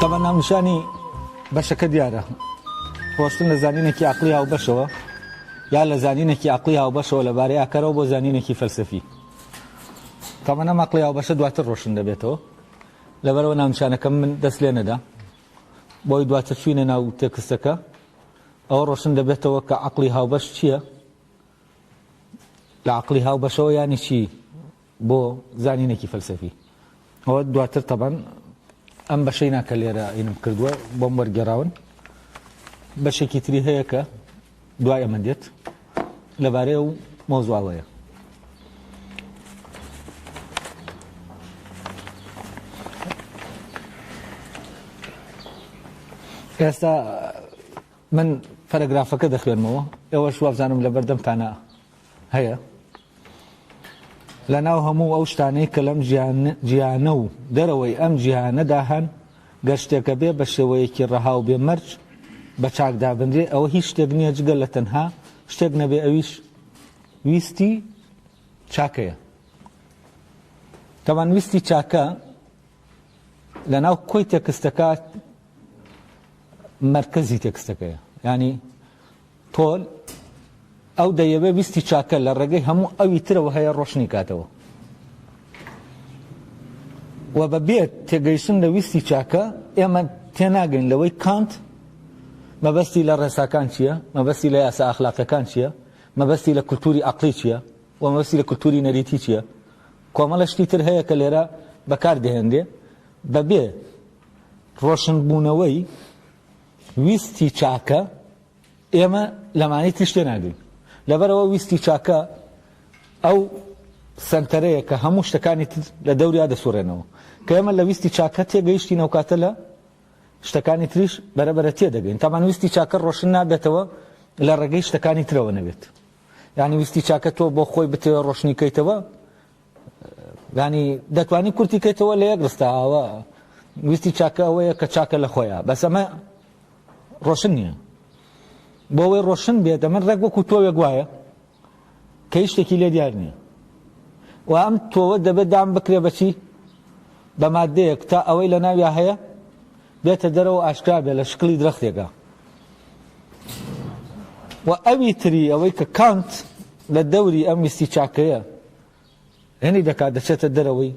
تەبا ناونیشانی بەشەکە دیارە ڕۆشتن لە زانینێکی عقلی هاوبەشەوە یا لە زانینێکی عقلی هاوبەشەوە لە بارەی ئاکەرەوە بۆ زانینێکی فەلسفی تەمەە مەقلی هاوبەشە دواتر ڕۆشن دەبێتەوە لەبەرەوە ناونشانەکەم من دەست لێ نەدا بۆی دواتر چوینە ناو تێکستەکە ئەوە ڕۆشن دەبێتەوە کە عقلی هاوبەش چییە لە عقلی هاوبەشەوە ینی چی بۆ زانینێکی فەلسەفی ئەوە دواتر تەبەن ئەم بەشەی ناکە لێرە ئینم کردووە بۆم وەرگێراون بەشێکی تری هەیە کە دوای ئەمە دێت لەبارەیە و مۆزواوەیە ئێستا من پەرەگرافەکە دەخوێنمەوە ئێوەش وابزانم لە بەردەمتانە هەیە لەناو هەموو ئەو شتانەی کە لەم جیهانە و دەرەوەی ئەم جیهانەدا هەن گەر شتێکە بێ بە شێوەیەکی ڕەها و بێ مەرج بە چاک دابنرێ ئەوە هیچ شتێک نییە جگە لە تەنها شتێک نەبێ ئەویش ویستی چاکەیە تەوان ویستی چاکە لە ناو کۆی تێکستەکە مرکزی تێکستەکەیە ینی پۆل، ئەو دەیەوێ ویستی چاکە لە ڕێگەی هەموو ئەوی ترەوە هەیە ڕۆشنی کاتەوە و بە بێ تێگەیشتن لە ویستی چاکە ئێمە تێناگەین لەوەی کانت مەبەستی لە ڕێساکان چییە، مەبەستی لە یاسا ئەخلاقیەکان چییە، مەبەستی لە کولتووری عەقڵی چییە و مەبەستی لە کولتووری نەریتی چییە. کۆمەڵە شتی تر هەیە کە لێرە بەکار دەهێنرێ بە بێ ڕۆشنبوونەوەی ویستی چاکە ئێمە لەمانەی تریش تێناگەین لەبەرەوە ویستی چاکە ئەو سەنتەرەیە کە هەموو شتەکانی تر لە دەوریا دەسوڕێنەوە کە ئێمە لە ویستی چاکە تێگەیشتی نەوکاتە لە شتەکانی تریش بەرەبەرە تێ دەگەین تامان ویستی چاکە ڕۆشن نابێتەوە لە ڕێگەی شتەکانی ترەوە نەبێت یعنی ویستی چاکە تۆ بۆ خۆی بتەوە ڕۆشنیکەیتەوە یانی دەتوانی کورتی کەیتەوە لە یەک ڕستە ئاوە ویستی چاکە ئەوەیە کە چاکە لە خۆیان بەس ئەمە ڕۆشن نییە بۆ ئەوەی ڕۆشن بێت ئەمە ڕێک وەکو تۆوێک گوایە کە هیچ شتێکی لێ دیار نییە و ئەم تۆوە دەبێت دام بکرێ بەچی بە مادەیەک تا ئەوەی لە ناویا هەیە بێتە دەرەوە ئاشکرا بێ لە شکلی درەختێکە و ئەوی تری ئەوەی کە کانت لە دەوری ئەم ویستی چاکەیە هێنی دەکات دەچێتە دەرەوەی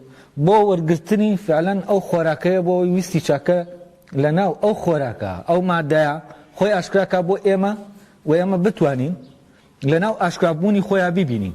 بۆ وەرگرتنی فعلەن ئەو خۆراکەیە بۆ ئەوی ویستی چاکە لە ناو ئەو خۆراکە ئەو مادەیە خۆی ئاشکراکە بۆ ئێمە و ئێمە بتوانین لە ناو ئاشکرابوونی خۆیان ببینین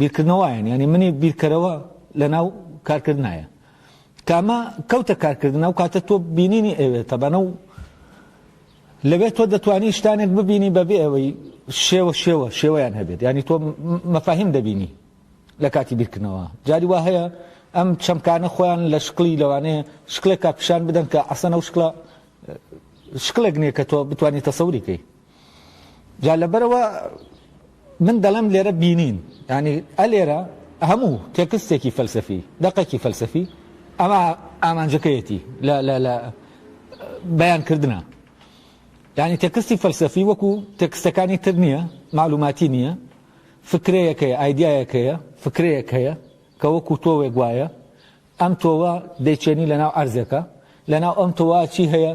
بیرکردنەوەایەن یانی منی بیرکەرەوە لەناو کارکردنایە کامە کەوتە کارکردنە و کاتە تۆ بینینی ئەوێ تەبەنە و لەوێت تۆ دەتوانی شتانێک ببینی بەبێ ئەوەی شێوە شێوە شێوەیان هەبێت ینی تۆ مەفاهیم دەبینی لە کاتی بیرکردنەوە جاری وا هەیە ئەم چەمکانە خۆیان لە شکلی لەوانەیە شکلێکا پیشان بدەن کە ئەسەنە و شکلە شکلێک نییە کە تۆ بتانی تەسەوری کەی جا لەبەرەوە من دەڵێم لێرە بینین ینی ئەلێرە هەموو تێکستێکی فەلسەفی دەقێکی فەلسەفی ئەمە ئامانجەکەیەتی لە بەیانکردە ینی تێکستی فەلسەفی وەکو تێکستەکانی تر نییە معلوماتی نییە فکرەیەکەیە ئایدایەکەیە فکرەیەک هەیە کە وەکو تۆوێک وایە ئەم تۆوە دەیچێنی لە ناو ئەرزێکە لە ناو ئەم تۆوا چی هەیە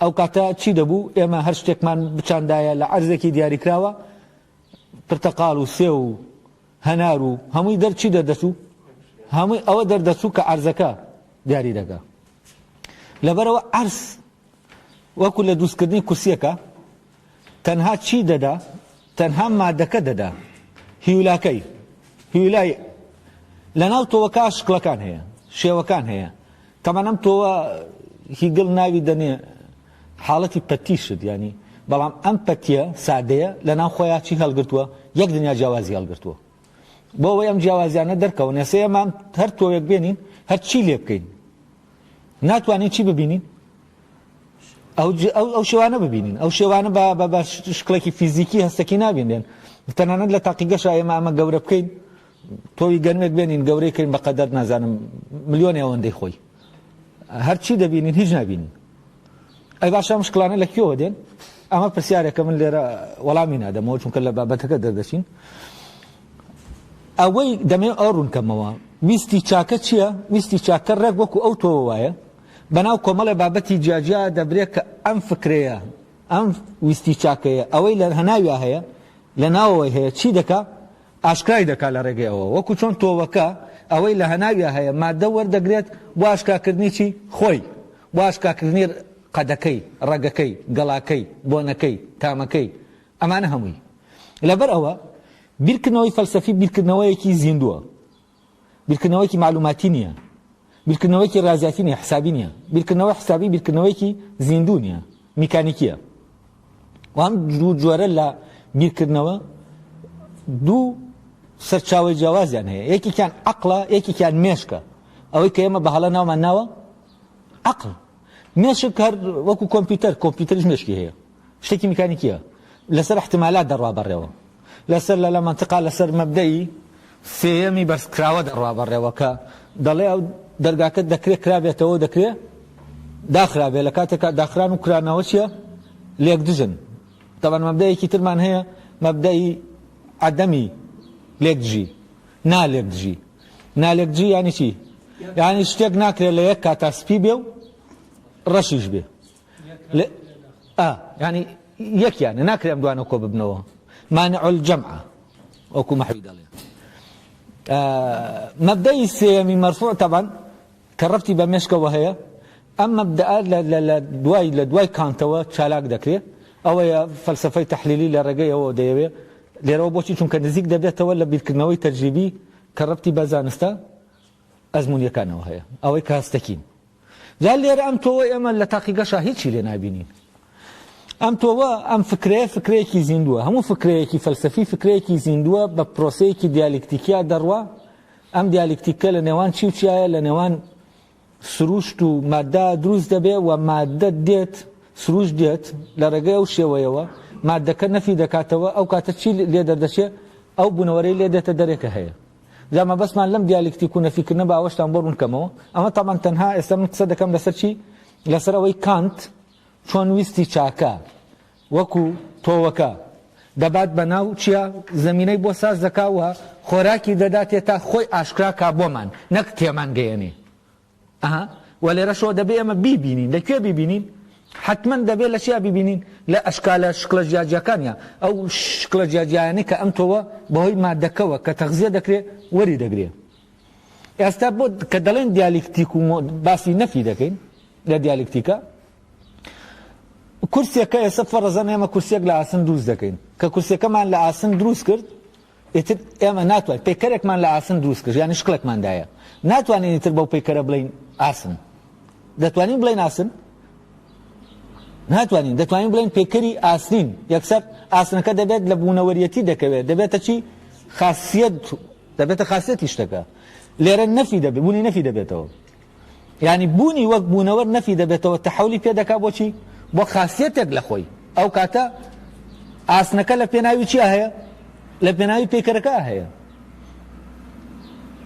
ئەو کاتە چی دەبوو؟ ئێمە هەر شتێکمان بچاندایە لە عەرزێکی دیاریکراوە، پرتەقاڵ و سێو و هەنار و هەمووی دەر چی دەردەچوو؟ هەمووی ئەوە دەردەچوو کە عەرزەکە دیاری دەکا. لەبەرەوە عەرز وەکو لە دروستکردنی کورسییەکە، تەنها چی دەدا؟ تەنها مادەکە دەدا. هیولاکەی. هیولای لەناو تۆوەکە شکڵەکان هەیە، شێوەکان هەیە. تەمان ئەم تۆوە هیگڵ ناوی دەنێ حاڵەتی پەتی شت یانی، بەڵام ئەم پەتیە سادەیە لەناو خۆیاچی هەڵگرتووە، یەک دنیا جیاوازی هەڵگرتووە. بۆ ئەوەی ئەم جیاوازیانە دەرکەون ئێستا ئێمە هەر تۆوێک بێنین هەر چی لێ بکەین ناتوانین چی ببینین ئەو شێوانە ببینین ئەو شێوانە بە شکڵێکی فیزیکی هەستەکی نابینێن تەنانەت لە تاقیگەش ئێمە ئەمە گەورە بکەین تۆوی گەنمێک بێنین گەورەی کرین بەقەدەر نازانم ملیۆنی ئەوەندەی خۆی هەر چی دەبینین هیچ نابینین. ئەی باشە ئەم شکڵانە لە کوێوە دێن؟ ئەمە پرسیارێکە من لێرە وەڵامی نادەمەوە چونکە لە بابەتەکە دەردەچین. ئەوەی دەمێ ئەو ڕوونکەمەوە ویستی چاکە چییە؟ ویستی چاکە ڕێک وەکو ئەو تۆوە وایە بەناو کۆمەڵێ بابەتی جیاجیا دەبرێت کە ئەم فکرەیە ئەم ویستی چاکەیە ئەوەی لە هەناویا هەیە لە ناوەوەی هەیە چی دەکا ئاشکرای دەکات لە ڕێگەی ئەوە وەکو چۆن تۆوەکە ئەوەی لە هەناویا هەیە ماددە وەردەگرێت بۆ ئاشکاکردنی چی؟ خۆی بۆ ئاشکاکردنی قەدەکەی، ڕەگەکەی، گەڵاکەی، بۆنەکەی، تامەکەی ئەمانە هەمووی لەبەر ئەوە بیرکردنەوەی فەلسەفی بیرکردنەوەیەکی زیندووە بیرکردنەوەیەکی مەعلوماتی نییە، بیرکردنەوەیەکی ڕیازیاتی نییە، حسابی نییە، بیرکردنەوەی حسابی بیرکردنەوەیەکی زیندوو نییە، میکانیکییە. و ئەم دوو جۆرە لە بیرکردنەوە دوو سەرچاوەی جیاوازیان هەیە، یەکێکیان عەقڵە، یەکێکیان مێشکە، ئەوەی کە ئێمە بە هەڵە ناومان ناوە عەقڵ. مێشک هەر وەکو کۆمپیوتەر، کۆمپیوتەریش مێشکی هەیە. شتێکی میکانیکیە لەسەر ئیحتیمالات دەڕوا بەڕێوە لەسەر لەلا مەنتقا لەسەر مەبدەئی سێیەمی بەرزکراوە دەڕوا بەڕێوە کە دەڵێ ئەو دەرگاکە دەکرێ کرابێتەوە دەکرێ داخرابێ لە کاتێکا داخران و کرانەوە چیە لێک دژن تەبەن مەبدەیەکی ترمان هەیە مەبدەئی عەدەمی لێک دژی نالێک دژی نالێک دژی یانی چی یانی شتێک ناکرێت لە یەک کاتا سپی بێ و ڕەشیش بێ لە یانی یەکیانە ناکرێم دوانە کۆ ببنەوە مانع الجمع وەکو مەحوی دەڵێ مەبدەی سێمی مەرفوع تەبان کە ڕفتی بە مێشکەوە هەیە ئەم مەبدا لە دوای لە دوای کانتەوە چالاک دەکرێت ئەوەیە فەلسفەی تحلیلی لە ڕێگەی ئەوە دەیەوێت لێرەوە بۆچی چونکە نزیک دەبێتەوە لە بیرکردنەوەی تەجریبی کە ڕفتی بە زانستە ئەزمونیەکانەوە هەیە ئەوەی کاستەکین جا لێرە ئەم تۆوە ئێمە لە تاقیگەشا هیچی لێ نابینین. ئەم تۆوە ئەم فکرەیە فکرەیەکی زیندووە هەموو فکرەیەکی فەلسەفی فکرەیەکی زیندووە بە پرۆسەیەکی دیالیکتیکیا دەڕوا ئەم دیالیکتیکە لە نێوان چی و چیایە لە نێوان سروشت و مادە دروست دەبێ و مادە دێت سروش دێت لە ڕێگەی ئەو شێوەیەوە مادەکە نەفی دەکاتەوە ئەو کاتە چی لێ دەردەچێ ئەو بوونەوەرەی لێ دێتە دەرێکە هەیە جا مەبەستمان لەم دیالکتیک و نەفیکردنە با ئەوەشتان بۆ ڕوون کەمەوە، ئەمە تەبعەن تەنها ئێستا من قسە دەکەم لەسەر چی؟ لەسەر ئەوەی کانت چۆن ویستی چاکە وەکو تۆوەکە دەبات بە ناو چیا زەمینەی بۆ ساز دەکا و خۆراکی دەداتێ تا خۆی ئاشکرا کا بۆمان نەک تێمان گەیەنێ. ئەها وە لێرەشەوە دەبێ ئێمە بیبینین لە کوێ بیبینین؟ حەتمەن دەبێ لە چیا بیبینین؟ لە ئەشکالە شکڵە جیاجیاکانیا ئەو شکڵە جیاجیایانەی کە ئەم تۆوە بەهۆی ماددەکەوە کە تەغزیە دەکرێ وەری دەگرێ ئێستا بۆ کە دەڵێن دیالیکتیک و باسی نەفی دەکەین لە دیالیکتیکە کورسێکە ئێستا فەڕەزەن ئێمە کورسێک لە ئاسن دروست دەکەین کە کورسەکەمان لە ئاسن دروست کرد ئیتر ئێمە ناتوانین پەیکەرێکمان لە ئاسن دروست کرد یانی شکڵێکمان دایە ناتوانین ئیتر بەو پەیکەرە بڵێین ئاسن دەتوانین بڵێین ئاسن ناتوانین دەتوانین بڵێن پێکەری ئاسنین یەکسەر ئاسنەکە دەبێت لە بوونەوەریەتی دەکەوێت دەبێتە چی خاصیت دەبێتە خاصیتی شتەکە لێرە نەفی دەبێت بوونی نەفی دەبێتەوە یانی بوونی وەک بوونەوەر نەفی دەبێتەوە تەحولی پێ دەکا بۆچی بۆ خاصیەتێک لە خۆی ئەو کاتە ئاسنەکە لە پێناوی چیا هەیە لە پێناوی پێکەرەکە هەیە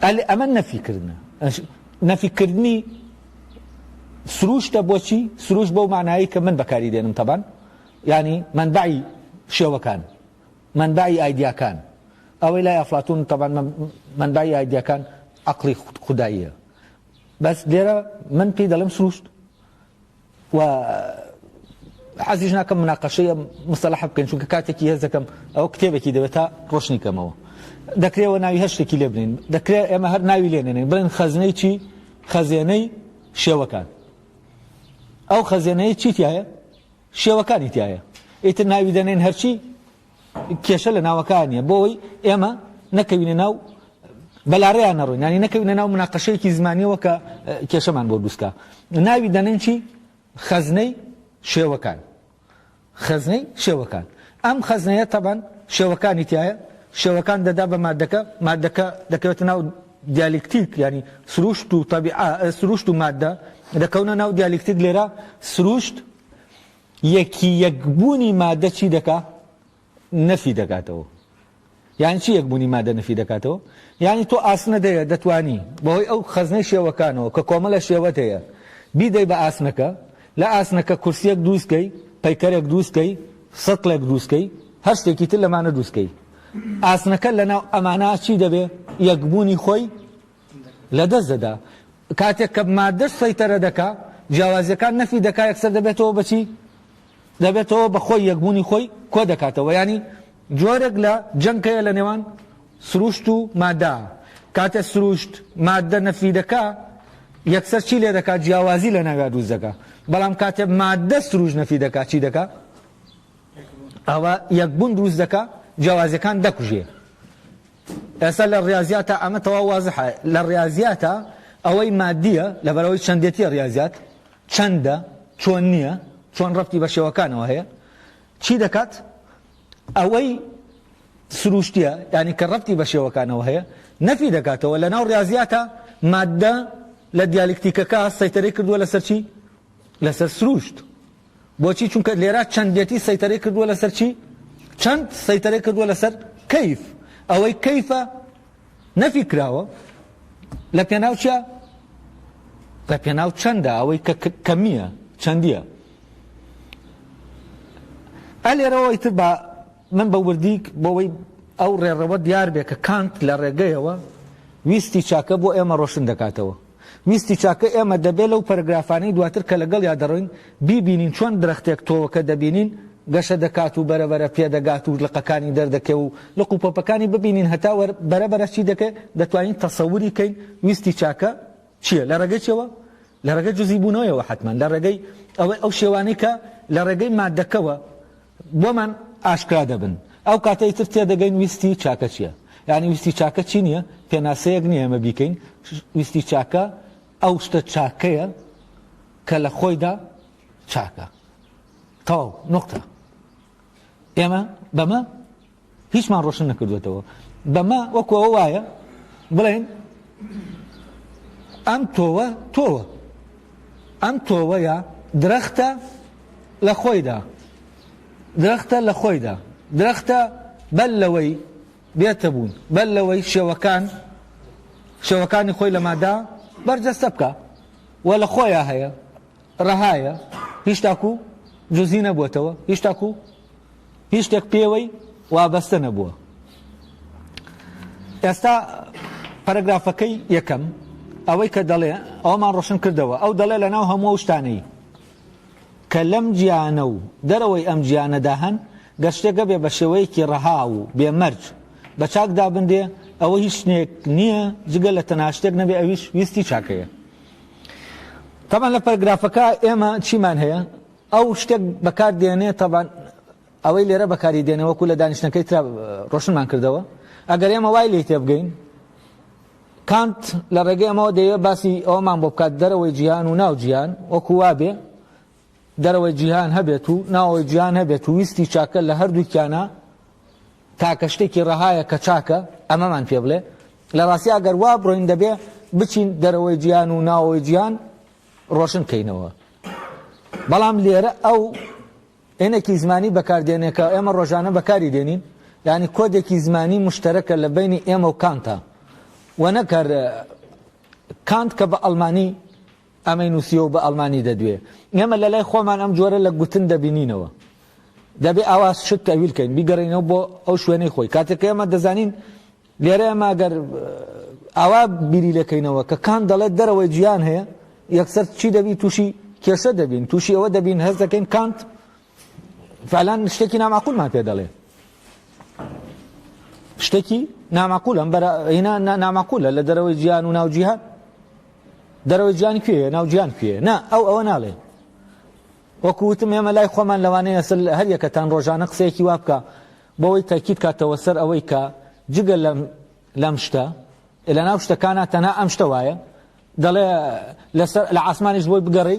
ئەل ئەمە نەفیکردە نەفیکردنی سروشتە بۆچی سروش بەو مانایی کە من بەکاری دێنم تەبان ینی منبعی شێوەکان مەنبەعی ئایدیاکان، ئەوەی لای ئەفلاتون تەبعەن مەنبەعی ئایدیاکان عەقڵی خوداییە بەس لێرە من پێی دەڵێم سروشت و حەزیش ناکەم مناقەشەی ئەم مستەلەحە بکەین چونکە کاتێکی هەست دەکەم ئەو کتێبێکی دەوێت تا ڕۆشنی کەمەوە دەکرێەوە ناوی هەر شتێکی لێ بنین دەکرێت ئێمە هەر ناوی لێنێنین بڵێن خەزنەی چی خەزێنەی شێوەکان ئەو خەزێنەیە چیتیایە شێوەکانی تیایە ئیتر ناوی دەنێن هەرچی کێشە لە ناوەکانە بۆەوەی ئێمە نەکەوینە ناو بەلاڕێیان نەڕۆین نانی نەکەوینە ناو مناقەشەیەکی زمانیەوە کە کێشەمان بۆ دووسکە ناوی دەنێن چی خەزنەی شێوەکان خەزنەی شێوەکان ئەم خەزنەیە تەبەن شێوەکانی تایە شێوەکان دەدا بە مادەکە مادەکە دەکەوێتە ناو دیالیکتیک یانی سروشت و تەبیعە سروشت و ماددە دەکەونە ناو دیالیکتیک لێرە سروشت یەکی یەک بوونی ماددە چی دەکا نەفی دەکاتەوە یان چی یەک بوونی مادە نەفی دەکاتەوە یانی تۆ ئاسنە دەیە دەتانی بەهۆی ئەو خەزنەی شێوەکانەوە کە کۆمەلە شێوەت هەیە بیدەی بە ئاسنەکە لە ئاسنەکە کورسیەک دروستکەی پەیکەرێک دروستکەی سەتڵێک دروستکەی هەر شتێکی تر لەمانە دروستکەی ئاسنەکە لەناو ئەمانە چی دەبێ؟ یەکبوونی خۆی لەدەست دەدا. کاتێک کە ماددەش سەیتەرە دەکا، جیاوازییەکان نەفی دەکا، یەکسەر دەبێتەوە بە چی؟ دەبێتەوە بە خۆی، یەکبوونی خۆی کۆ دەکاتەوە. یانی جۆرێک لە جەنگ هەیە لە نێوان سرووشت و ماددە. کاتێ سرووشت ماددە نەفی دەکا، یەکسەر چی لێ دەکا؟ جیاوازی لەناویا دروست دەکا. بەڵام کاتێ ماددە سرووشت نەفی دەکا، چی دەکا؟ ئەوە یەک بوون دروست دەکا جیاوازیەکان دەکوژێ ئێستا لە ڕاضیاتە ئەمە تەوا وازحە لە ڕاضیاتە ئەوەی مادیە لەبەرەوەی چەندێتیە ڕاضیات چەندە چۆن نییە چۆن ڕفتی بە شێوەکانەوە هەیە چی دەکات ئەوەی سروشتیە ینی کە ڕفتی بە شێوەکانەوە هەیە نەفی دەکاتەوە لە ناو ڕاضیاتە مادە لە دیالکتیکەکە سەیتەرەی کردووە لەسەر چی لەسەر سروشت بۆچی چونکە لێرا چەندێتی سەیتەرەی کردووە لەسەر چی چەند سەیتەرەی کردووە لەسەر کەیف ئەوەی کەیفە نەفی کراوە لە پێناوچە لە پێناو چەندە ئەوەی کە کەمیە چەندیە ئە لێرەوەی تر بە من بە وردیک بۆەوەی ئەو ڕێڕەوە دیار بێ کە کانت لە ڕێگەیەوە ویستی چاکە بۆ ئێمە ڕۆشن دەکاتەوە ویستی چاکە ئێمە دەبێ لەو پەرەگرافانەی دواتر کە لەگەڵیا دەڕۆین، بیبینین چۆن درەختێک تۆوەکە دەبینین گەشە دەکات و بەرەبەرە پێدەگات و لقەکانی دەردەکێ و لق و پۆپەکانی ببینین هەتا وەر بەرەبەرە چی دەکێ، دەتوانین تەسەوری کەین ویستی چاکە چییە، لە ڕێگەی چییەوە؟ لە ڕێگەی جزیبوونەوەیەوە حەتمەن، لە ڕێگەی ئەوەی ئەو شێوانەی کە لە ڕێگەی ماددەکەوە، بۆمان ئاشکرا دەبن ئەو کاتە ئیتر تێدەگەین ویستی چاکە چیە یانی ویستی چاکە چی نیە پێناسەیەک نیە ئێمە بیکەین ویستی چاکە ئەو شتە چاکەیە کە لە خۆیدا چاکە تەواو نقطە ئێمە بەمە هیچمان ڕۆشن نەکردۆتەوە بەمە وەکو ئەوە وایە بڵێن ئەم تۆوە تۆوە ئەم تۆوەیە درەختە لە خۆیدا درەختە لە خۆیدا درەختە بەل لەوەی بێتە بوون بەل لەوەی شێوەکان شێوەکانی خۆی لەمادا بەرجەستە بکە و لە خۆیان هەیە رەهایە هیچ تاکو جزی نەبوەتەوە هیچ تاکو هیچ شتێک پێوەی وابەستە نەبووە ئێستا پەرەگرافەکەی یەکەم ئەوەی کە دەڵێ ئەومان ڕۆشن کردەوە ئەو دەڵێ لە ناو هەموو شتانەی کە لەم گیانە و دەرەوەی ئەم گیانەدا هەن گە شتێکە بێ بە شێوەیەکی ڕەها و بێمەرج بە چاکدا بندێ ئەوە هیچ شتێک نییە جگە لە تەناشتێک نەبێ ئەویش ویستی چاکەیە تەبعەن لە پەرگرافەکە ئێمە چیمان هەیە ئەو شتێک بەکار دێنێ تەبان ئەوەی لێرە بەکاری دێنێ وەکو لە دانیشتەکەی ترا ڕۆشنمان کردەوە ئەگەر ئێمە وای لی تێبگەین کانت لە ڕێگەی ئەمەوە دەیە باسی ئەومان بۆ بکات دەرەوەی جیهان و ناو جیهان وەکو وابێ دەرەوەی جیهان هەبێت و ناوەوەی جیهان هەبێت و ویستی چاکە لە هەردووکیانە تاکە شتێکی ڕەهایە کە چاکە ئەمەمان پێ بڵێ، لە ڕاستی ئەگەر وا بڕۆین دەبێ بچین دەرەوەی جیهان و ناوەوەی جیهان ڕۆشن کەینەوە. بەڵام لێرە ئەو ئێنێکی زمانی بەکار دێنێ کە ئێمە ڕۆژانە بەکاری دێنین، یانی کۆدێکی زمانی مشتەرەکە لە بەینی ئێمە و کانتە و نەک هەر کانت کە بە ئەڵمانی ئەمەی نووسیوە و بە ئەڵمانی دەدوێ. ئێمە لە لای خۆمان ئەم جۆرە لە گوتن دەبینینەوە. دەبێ ئاوا شت تەویل کەین، بیگەڕێینەوە بۆ ئەو شوێنەی خۆی. کاتێک کە ئێمە دەزانین لێرە ئێمە ئەگەر ئاوا بیری لێ کەینەوە کە کانت دەڵێت دەرەوەی جیهان هەیە، یەکسەر چی دەبین؟ تووشی کێشە دەبین، تووشی ئەوە دەبین هەست دەکەین کانت فالان شتێکی ناماقولمان پێ دەڵێ شتێکی ناماقول ئەم بەرەنا ناماقولە لە دەرەوەی جیان و ناوجییهان دەرەوەی جیان کوێ ناوجیان کوێ نا ئەو ئەوە ناڵێ وەکوتم ئێمە لای خۆمان لەوانەیە سل هەر یەکەتان ڕۆژانە قسەیەکی وا بکە بۆەوەی تاکیت کاتەوە سەر ئەوەی کە جگە لەم شتە لە ناو شتەکانە تەنها ئەم شتە وایە دەڵێ لەسەر لە ئاسمانیش بۆی بگەڕی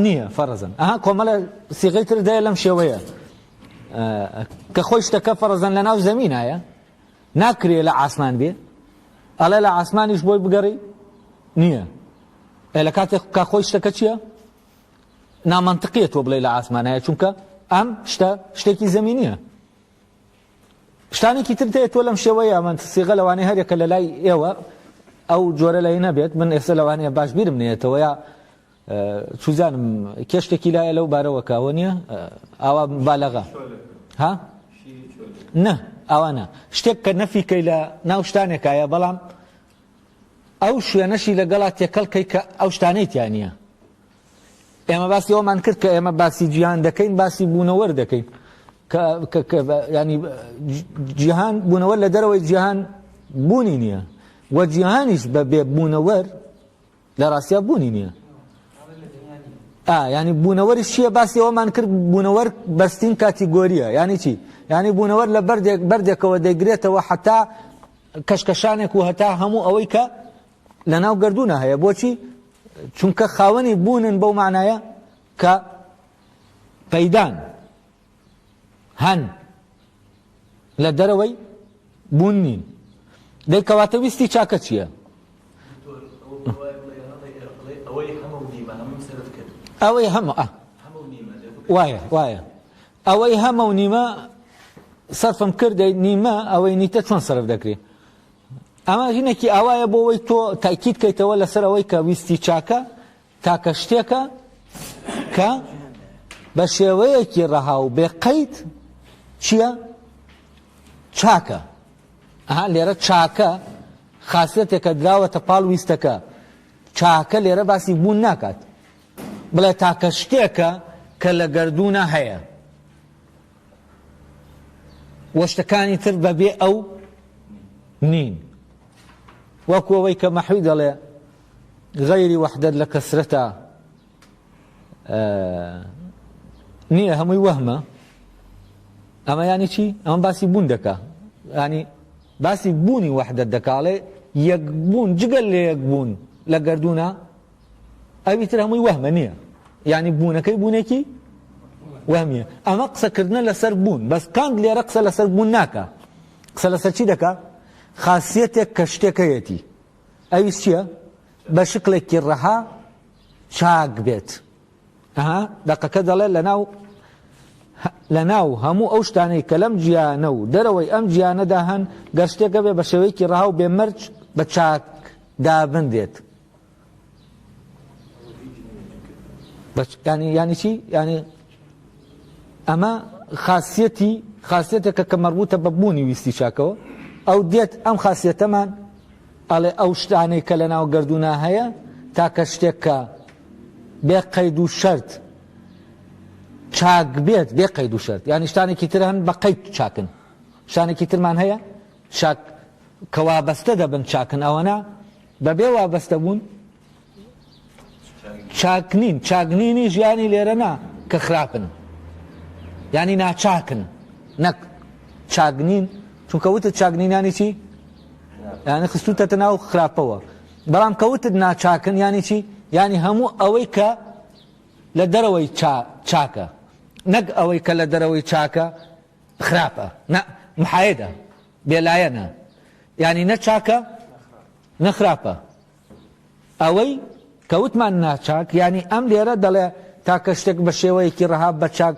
نییە فەرزن ئەها کۆمەلە سیغی تر دەیە لەم شێوەیە کە خۆی شتەکە فەرزن لە ناو زەمینایە ناکرێ لە ئاسمان بێ ئەڵێ لە ئاسمانیش بۆی بگەڕی نییە لە کاتێک کا خۆی شتەکە چییە نامانتقیە تۆ بڵێ لە ئاسمانایە چونکە ئەم شتە شتێکی زەمینە شتانێکی تر تێ تۆ لەم شێوەیە من سیغە لەوانەیە هەرێکە لە لای ئێوە ئەو جۆرە لای نەبێت من ئێستا لەوانەیە باش بیرم نێتەوە یا چوزانم کێشتێکی لایە لەو بارەوە کاوە نییە ئاوا بالەغا ها نە ئەوانە شتێک کە نەفیکەی لە ناو شتانێکایە بەڵام ئەو شوێنەشی لەگەڵا تێکەڵکەی کە ئەو شتانەی تیانە ئێمە باسی ئەوەمان کرد کە ئێمە باسی جیهان دەکەین باسی بوونەوەر دەکەین ینی جیهان بوونەوە لە دەرەوەی جیهان بوونی نییە و جیهانیش بە بێ بوونەوەر لە ڕاستیا بوونی نییە ینی بوونەوەری شیە باسی ئەومان کرد بوونەوەر بەستین کاتی گۆریە ینی چی ینی بوونەوەر لە بەردێک بەردێکەوە دەگرێتەوە حتا کەشکەشانێک و هەتا هەموو ئەوەی کە لەناو گەردوونە هەیە بۆچی چونکە خاوەنی بوونن بەو معنایە کە پەیدان هەن لە دەرەوەی بوون نین دەی کەواتە ویستی چاکە چییە ئەوەی هەمە وایە وایە ئەوەی هەمە و نیمە سەرفم کردی نیمە ئەوەی نیتە چۆن سەرف دەکرێت ئەمە ژنێکی ئاوایە بۆ ئەوەی تۆ تاکید کەیتەوە لەسەر ئەوەی کە ویستی چاکە تاکە شتێکە کە بە شێوەیەکی ڕەها و بێ قەیت چییە چاکە ئەها لێرە چاکە خاصەتێکە دراوەتە پاڵ ویستەکە چاکە لێرە باسی بوون ناکات بڵێ تاکە شتێکە کە لە گردوونە هەیە وە شتەکانی تر بەبێ ئەو نین وەکو ئەوەی کە مەحوی دەڵێ غەیری وەحدەت لە کەسرەتە نییە هەمووی وەهمە ئەمە ینی چی ئەمە باسی بوون دەکا ینی باسی بوونی وەحدەت دەکاڵێ یەک بوون جگەل لە یەک بوون لە گردونە ئەوی تر هەمووی وەهمە نییە یعنی بوونەکەی بوونێکی وەهمیە ئەمە قسەکردنە لەسەر بوون بەس کانت لێرە قسە لەسەر بوون ناکە قسە لەسەر چی دەکا خاصیتێک کە شتێکەیەتی ئەوی چییە بە شکلێکی ڕەها چاک بێت ئەها دەقەکە دەڵێ لە ناو لە ناو هەموو ئەو شتانەی کە لەم گیانە و دەرەوەی ئەم گیانەدا هەن گەر شتێکە بێ بە شێوەیەکی ڕەها و بێمەرج بە چاک دابندێت ینی ینی چی ینی ئەمە خاصەتی خاصەتەکە کە مەڕبووتە بە بوونی ویستی چاکەوە ئەو دێت ئەم خاصەتەمان ئەڵێ ئەو شتانەی کە لە ناو گردونا هەیە تاکە شتێکە بێ قەید و شەرت چاک بێت بێ قەید و شەرت یان شتانێکی تر هەن بە قەید چاکن شتانێکی ترمان هەیە چاک کەوا بەستە دەبن چاکن ئەوەنا بەبێ وابەستەبوون چاک نین، چاک نینی ژیانی لێرە نا کە خراپن یانی ناچاکن نەک چاک نین چونکە وتت چاک نینانی چی؟ یانی خستوتەتە ناو خراپەوە بەڵام کەوتت ناچاکن ینی چی ینی هەموو ئەوەی کە لە دەرەوەی چاکە نەک ئەوەی کە لە دەرەوەی چاکە خراپە نە محایدە بێلایەنە یانی نە چاکە نە خراپە ئەوەی کەوتمان ناچاک یانی ئەم لێرە دەڵێ تاکە شتێک بە شێوەیەکی ڕەها بە چاک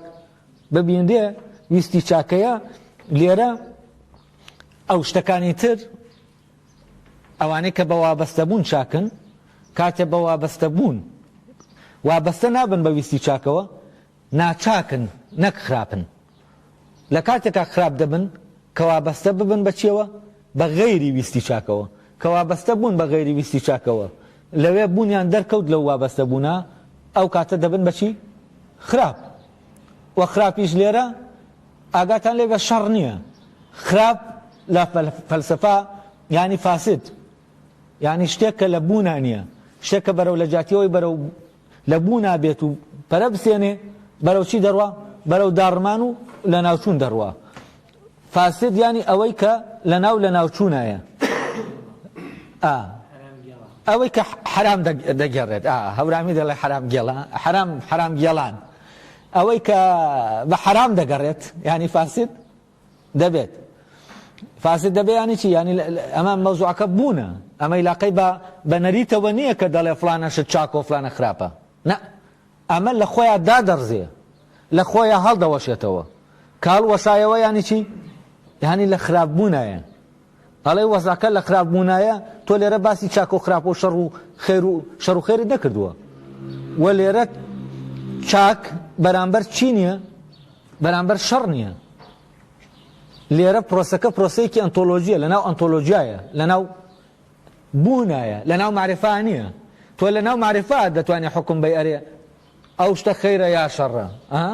ببینرێ ویستی چاکەیە لێرە ئەو شتەکانی تر ئەوانەی کە بە وابەستە بوون چاکن کاتێ بە وابەستە بوون وابەستە نابن بە ویستی چاکەوە ناچاکن نەک خراپن لە کاتێکا خراپ دەبن کە وابەستە ببن بە چیەوە بە غەیری ویستی چاکەوە کە وابەستە بوون بە غەیری ویستی چاکەوە لەوێ بوونیان دەرکەوت لەو وابەستە بوونە ئەو کاتە دەبن بە چی خراپ وە خراپیش لێرە ئاگاتان لێ بە شەڕ نییە خراپ لە فەلسفە یانی فاسد یانی شتێک کە لە بوونە نییە شتێک کە بەرەو لە جاتیەوەی بەرەو لە بوونا بێت و پەرە بسێنێ بەرەو چی دەڕوا بەرەو داڕمان و لە ناوچوون دەڕوا فاسد یانی ئەوەی کە لە ناو لە ناوچوونایە ئەوەی کە حرام دەگەڕێت هەورامی دەڵێ حرام گێڵان حرام حرام گێڵان ئەوەی کە بە حرام دەگەڕێت ینی فاسد دەبێت فاسد دەبێ یانی چی یانی ئەمە مەوزوعەکە بوونە ئەمەی لاقەی بە بە نەریتەوە نییە کە دەڵێ فلانەشت چاکۆ فلانە خراپە نە ئەمە لە خۆیان دادەڕزێ لە خۆیان هەڵدەوەشێتەوە کاڵ وەشایەوە یانی چی یانی لە خراپبوونایە ئەڵێ وەزعەکە لە خراپ بوونایە، تۆ لێرە باسی چاکە و خراپە و شەڕ و خێر و شەڕ و خێرت نەکردووە و لێرە چاک بەرامبەر چی نییە؟ بەرامبەر شەڕ نییە. لێرە پرۆسەکە پرۆسەیەکی ئەنتۆلۆژیە لە ناو ئەنتۆلۆژیایە لە ناو بوونایە لە ناو معرفا نییە تۆ لە ناو معرفا دەتوانێت حکم بەی ئەرێ ئەو شتە خەیرە یا شەڕە ها؟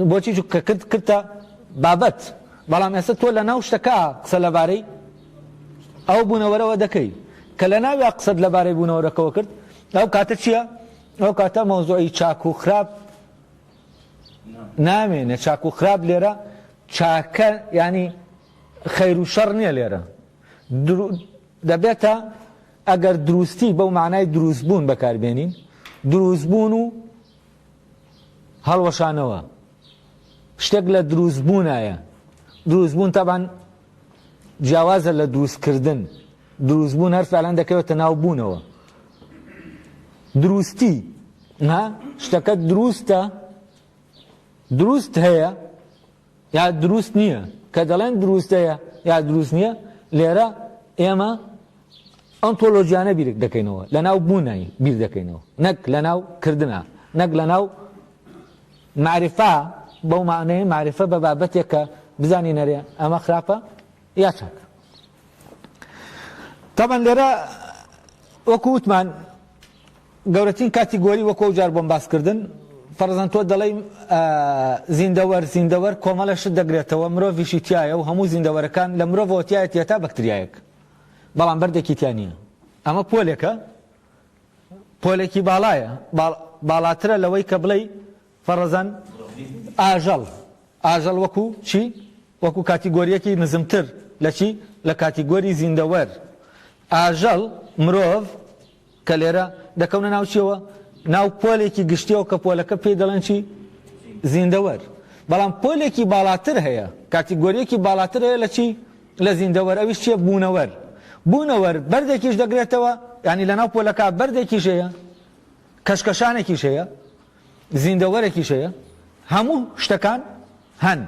بۆچی چونکە کرد کردتە بابەت بەڵام ئێستا تۆ لە ناو شتەکە قسە لەبارەی ئەو بوونەوەرەوە دەکەی کە لە ناویا قسەت لەبارەی بوونەوەرەکەەوە کرد ئەو کاتە چییە؟ ئەو کاتە مەوزۆی چاک و خراپ نامێنێ چاک و خراپ لێرە چاکە ینی خەیر و شەڕ نییە لێرە دەبێتە، ئەگەر دروستی بەو مانای دروستبوون بەکاربێنین، دروستبوون و هەڵوەشانەوە شتێک لە دروستبوونایە، دروستبوون تەبعەن جیاوازە لە دروستکردن، دروستبوون هەر فعلەن دەکەوێتە ناو بوونەوە. دروستی، ها، شتەکە دروستە، دروست هەیە، یا دروست نییە، کە دەڵێن دروستەیە یا دروست نییە، لێرە ئێمە ئۆنتۆلۆژیانە بیرک دەکەینەوە، لەناو بوونای بیر دەکەینەوە، نەک لەناو کردنا، نەک لەناو مەعریفا، بەو مەعنەیە مەعریفە بە بابەتێک کە بزانین ئەرێ ئەمە خراپە یا چاک. تەبەن لێرە وەکو وتمان گەورەترین کاتیگۆری وەکو ئەو جار بۆم باس کردن فەرزەن تۆ دەڵێی زیندەوەر زیندەوەر کۆمەڵێ شت دەگرێتەوە مرۆڤیشی تیایە و هەموو زیندەوەرەکان لە مرۆڤەوە تیایەتی هەتا بەکتریایەک بەڵام بەردێکی تیا نییە ئەمە پۆلێکە پۆلێکی باڵایە باڵاترە لەوەی کە بڵێی فەڕزەن ئاژەڵ، ئاژەڵ وەکو چی؟ وەکو کاتیگۆرییەکی نزمتر لە چی؟ لە کاتیگۆری زیندەوەر. ئاژەڵ، مرۆڤ، کە لێرە دەکەونە ناو چییەوە؟ ناو پۆلێکی گشتییەوە کە پۆلەکە پێی دەڵێن چی؟ زیندەوەر. بەڵام پۆلێکی باڵاتر هەیە، کاتیگۆرییەکی باڵاتر هەیە لە چی؟ لە زیندەوەر، ئەویش چییە؟ بوونەوەر. بوونەوەر بەردێکیش دەگرێتەوە، یانی لەناو پۆلەکە بەردێکیش هەیە، کەشکەشانێکیش هەیە. زیندەوەرێکیش هەیە هەموو شتەکان هەن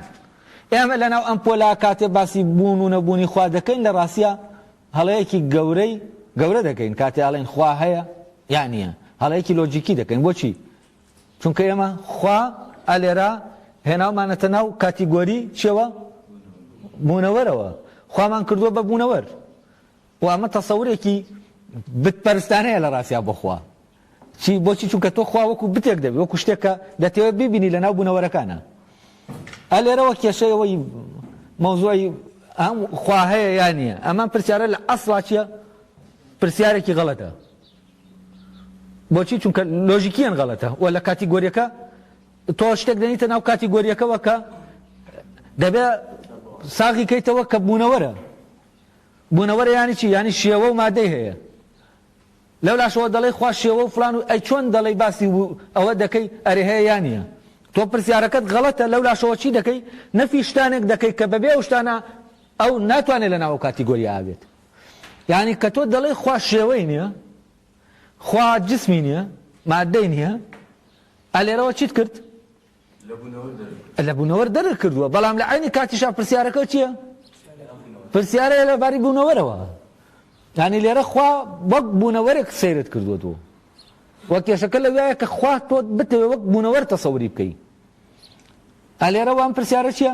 ئێمە لەناو ئەم پۆلا کاتێ باسی بوون و نەبوونی خوا دەکەین لە ڕاستە هەڵەیەکی گەورەی گەورە دەکەین کاتێ ئاڵێن خوا هەیە یان نییە هەڵەیەکی لۆجیکی دەکەین بۆچی چونکە ئێمە خوا ئەلێرا هێناومانەتە ناو کاتیگۆری چێوە بوونەوەرەوە خوامان کردووە بە بوونەوەر و ئەمە تەسەورێکی بت پەرستانەیە لە ڕاستیا بۆ خوا چی بۆچی چونکە تۆ خوا وەکو بتێک دەبی وەکو شتێک کە دەتەوێت ببینی لە ناو بوونەوەرەکانە ئە لێرەوە کێشەی ئەوەی مەوزوعی ئەم خوا هەیە یا نییە ئەمان پرسیارە لە ئەسڵا چییە پرسیارێکی غەڵەتە بۆچی چونکە لۆژیکیان غەڵەتە و لە کاتی گۆریەکە تۆ شتێک دەنیتە ناو کاتی گۆریەکەەوە کە دەبێ ساغی کەیتەوە کە بوونەوەرە بونەوەرە یانی چی یانی شێوە و مادەی هەیە لەولاشەوە دەڵێی خوا شێوە و فلان و ئەی چۆن دەڵێی باسی و ئەوە دەکەی ئەرێ هەیە یا نیە تۆ پرسیارەکەت غەڵەتە لەولاشەوە چی دەکەی نەفی شتانێک دەکەی کە بەبێ ئەو شتانە ئەو ناتوانێت لە ناو کاتیگۆریا ئابێت یانی کە تۆ دەڵێی خوا شێوەی نیە خوا جسمی نیە مادەی نیە ئەلێرەوە چیت کرد لە بوونەوەر دەرک کردووە، بەڵام لە عەینی کاتیشا پرسیارەکە چییە؟ پرسیارەیە لە باری بوونەوەرەوە. یانی لێرە خوا وەک بوونەوەرێک سەیرت کردووە تۆ. وە کێشەکە لەوایە کە خوا تۆ بتەوێ وەک بوونەوەر تەسەوری بکەی. ئەلێرە وام پرسیارە چییە؟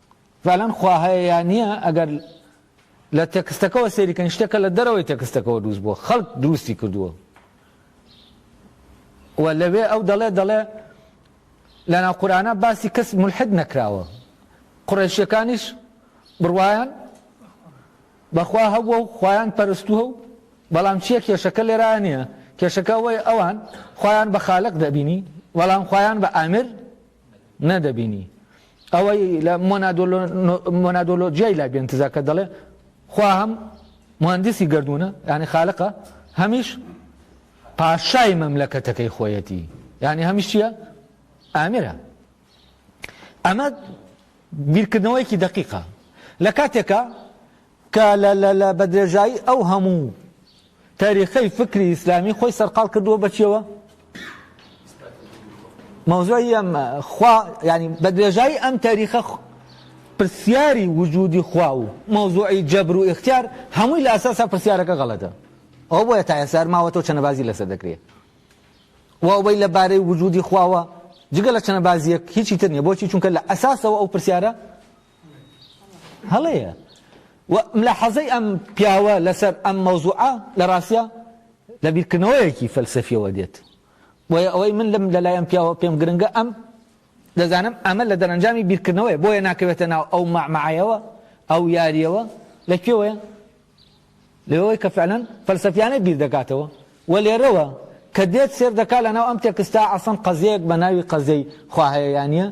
فعلەن خوا هەیە یا نییە ئەگەر لە تێکستەکەەوە سەیری کەن شتێکە لە دەرەوەی تێکستەکەەوە دروست بووە خەڵک دروستی کردووە و لەوێ ئەو دەڵێ دەڵێ لە ناو قورآە باسی کەس ملحد نەکراوە قڕێشیەکانیش بڕواان بەخوا هەبووە و خۆیان پەرستووە و بەڵام چییە کێشەکە لێرا نییە کێشەکە وەی ئەوان خۆیان بە خالق دەبینی بەڵام خۆیان بە ئامر نەدەبینی ئەوەی لە مۆنادۆلۆجیای لای بێنتزا کە دەڵێ خوا هەم مهندسی گردوونە یعنی خالقە هەمیش پاشای مەملەکەتەکەی خۆیەتی یعنی هەمیش چییە ئامرە ئەمە بیرکردنەوەیەکی دقیقە لە کاتێکە کە لە بە درێژایی ئەو هەموو تەریقەی فکری ئیسلامی خۆی سەرقاڵ کردووە بە چیەوە؟ مەوزوعی ئەم خوا یعنی بە درێژایی ئەم تەریقە پرسیاری وجودی خوا و مەوزوعی جەبر و ئختیار هەمووی لە ئەساسا پرسیارەکە غەڵەتە ئەو بۆیە تا ئێسار ماوە تۆ چەنەبازی لەسەر دەکرێت واوەی لە بارەی وجودی خواوە جگە لە چەنەبازیەک هیچی تر نیە بۆچی چونکە لە ئەساسەوە ئەو پرسیارە هەڵەیە و ملاحەزەی ئەم پیاوە لەسەر ئەم مەوزوعە لە ڕاستە لە بیرکردنەوەیەکی فەلسەفیەوە دێت بۆیە ئەوەی من لەم لەلایەن پیاوە پێم گرنگە ئەم دەزانم ئەمە لە دەرەنجامی بیرکردنەوەی بۆیە ناکەوێتە ناو ئەو مەعمەعەیەوە ئەو یاریەوە لە کوێوەیە لەوەی کە فعلەن فەلسەفیانەی بیر دەکاتەوە و لێرەوە کە دێت سێر دەکات لە ناو ئەم تێکستە ئەسڵەن قەزیەیەک بە ناوی قەزیەی خوا هەیە یا نییە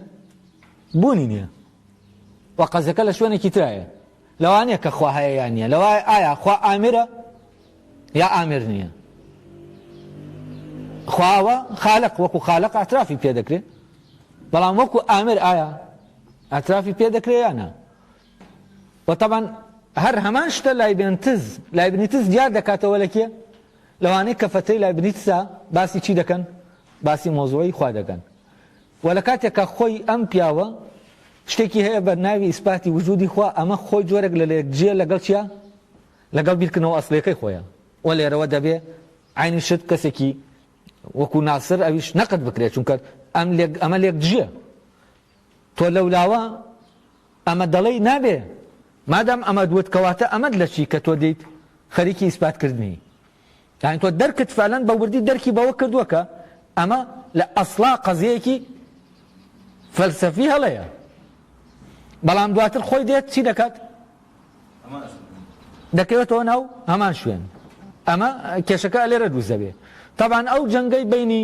بوونی نییە و قەزیەکە لە شوێنێکی ترایە لەوانەیە کە خوا هەیە یا نییە لەوای ئایا خوا ئامرە یا ئامر نییە خواوە خالق وەکو خالق ئاعترافی پێ دەکرێت بەڵام وەکو ئامر ئایا ئاعترافی پێ دەکرێت یانە وە تەبعەن هەر هەمان شتە لایبێنتز لایبنیتز دیار دەکاتەوە لە کێ؟ لەوانەی کە فەتەی لایبنیتزە باسی چی دەکەن؟ باسی مەوزوعی خوا دەکەن وە لە کاتێک کە خۆی ئەم پیاوە شتێکی هەیە بە ناوی ئیسپاتی وجودی خوا ئەمە خۆی جۆرێک لە لەیەکجیە لەگەڵ چیە؟ لەگەڵ بیرکردنەوە ئەسڵیەکەی خۆیە وە لێرەوە دەبێ عینی شت کەسێکی وەکو ناسر ئەویش نەقد بکرێت چونکە ئەم لێک ئەمە لێکجیە تۆ لەولاوە ئەمە دەڵێی نابێ مادام ئەمەت وت کەواتە ئەمەت لە چی کە تۆ دیت خەریکی ئیسپات کردنی یان تۆ دەرکت فالەن بە وردی دەرکی بەوە کردووە کە ئەمە لە ئەسڵا قەزەیەکی فەلسەفی هەڵەیە بەڵام دواتر خۆی دێت چی دەکات دەکەوێتەوە ناو هەمان شوێن ئەمە کێشەکە لێرە دووزەبێ تاوان ئەو جەنگەی بینی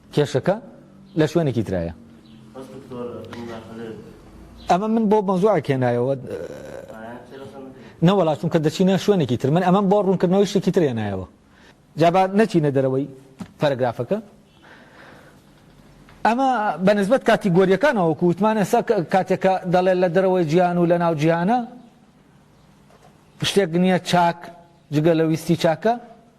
کێشەکە لە شوێنێکی ترایە. ئەمە من بۆ مەزوعێک هێنایەوە نەوەڵا چونکە دەچینە شوێنێکی تر من ئەمەم بۆ ڕوونکردنەوەی شتێکی تر هێنایەوە جابا نەچینە دەرەوەی پەرگرافەکە ئەمە بەنسبت کاتی گۆریەکانەوە کووتمانە سە کاتێکە دەڵێت لە دەرەوەی جیان و لە ناو جیهانە شتێک نییە چاک جگە لە ویستی چاکە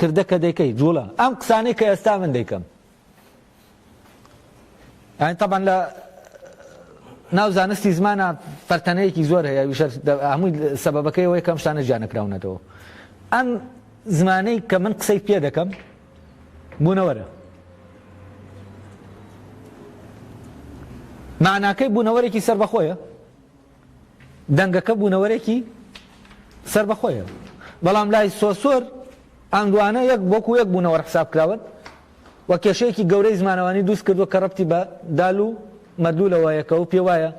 کردە کە دەیکەی جوڵە ئەم قسانەی کە ئێستا من دەیکەم یعنی طبعا لە ناو زانستی زمانە پەرتەنەیەکی زۆر هەیە ویشەر هەمووی سەبەکەی ئەوەی کەم شتانە جیانەکراونەتەوە ئەم زمانەی کە من قسەی پێ دەکەم بوونەوەرە معناکەی بوونەوەرێکی سربەخۆیە دەنگەکە بوونەوەرێکی سەربەخۆیە بەڵام لای سۆسۆر ئەم دوانە یەک بۆکو یەک بوونەوەر حساب کراون و کێشەیەکی گەورەی زمانەوانی دووست کردووە کە ڕەبتی بە دال و مەدلولەوەیەکە و پێوایە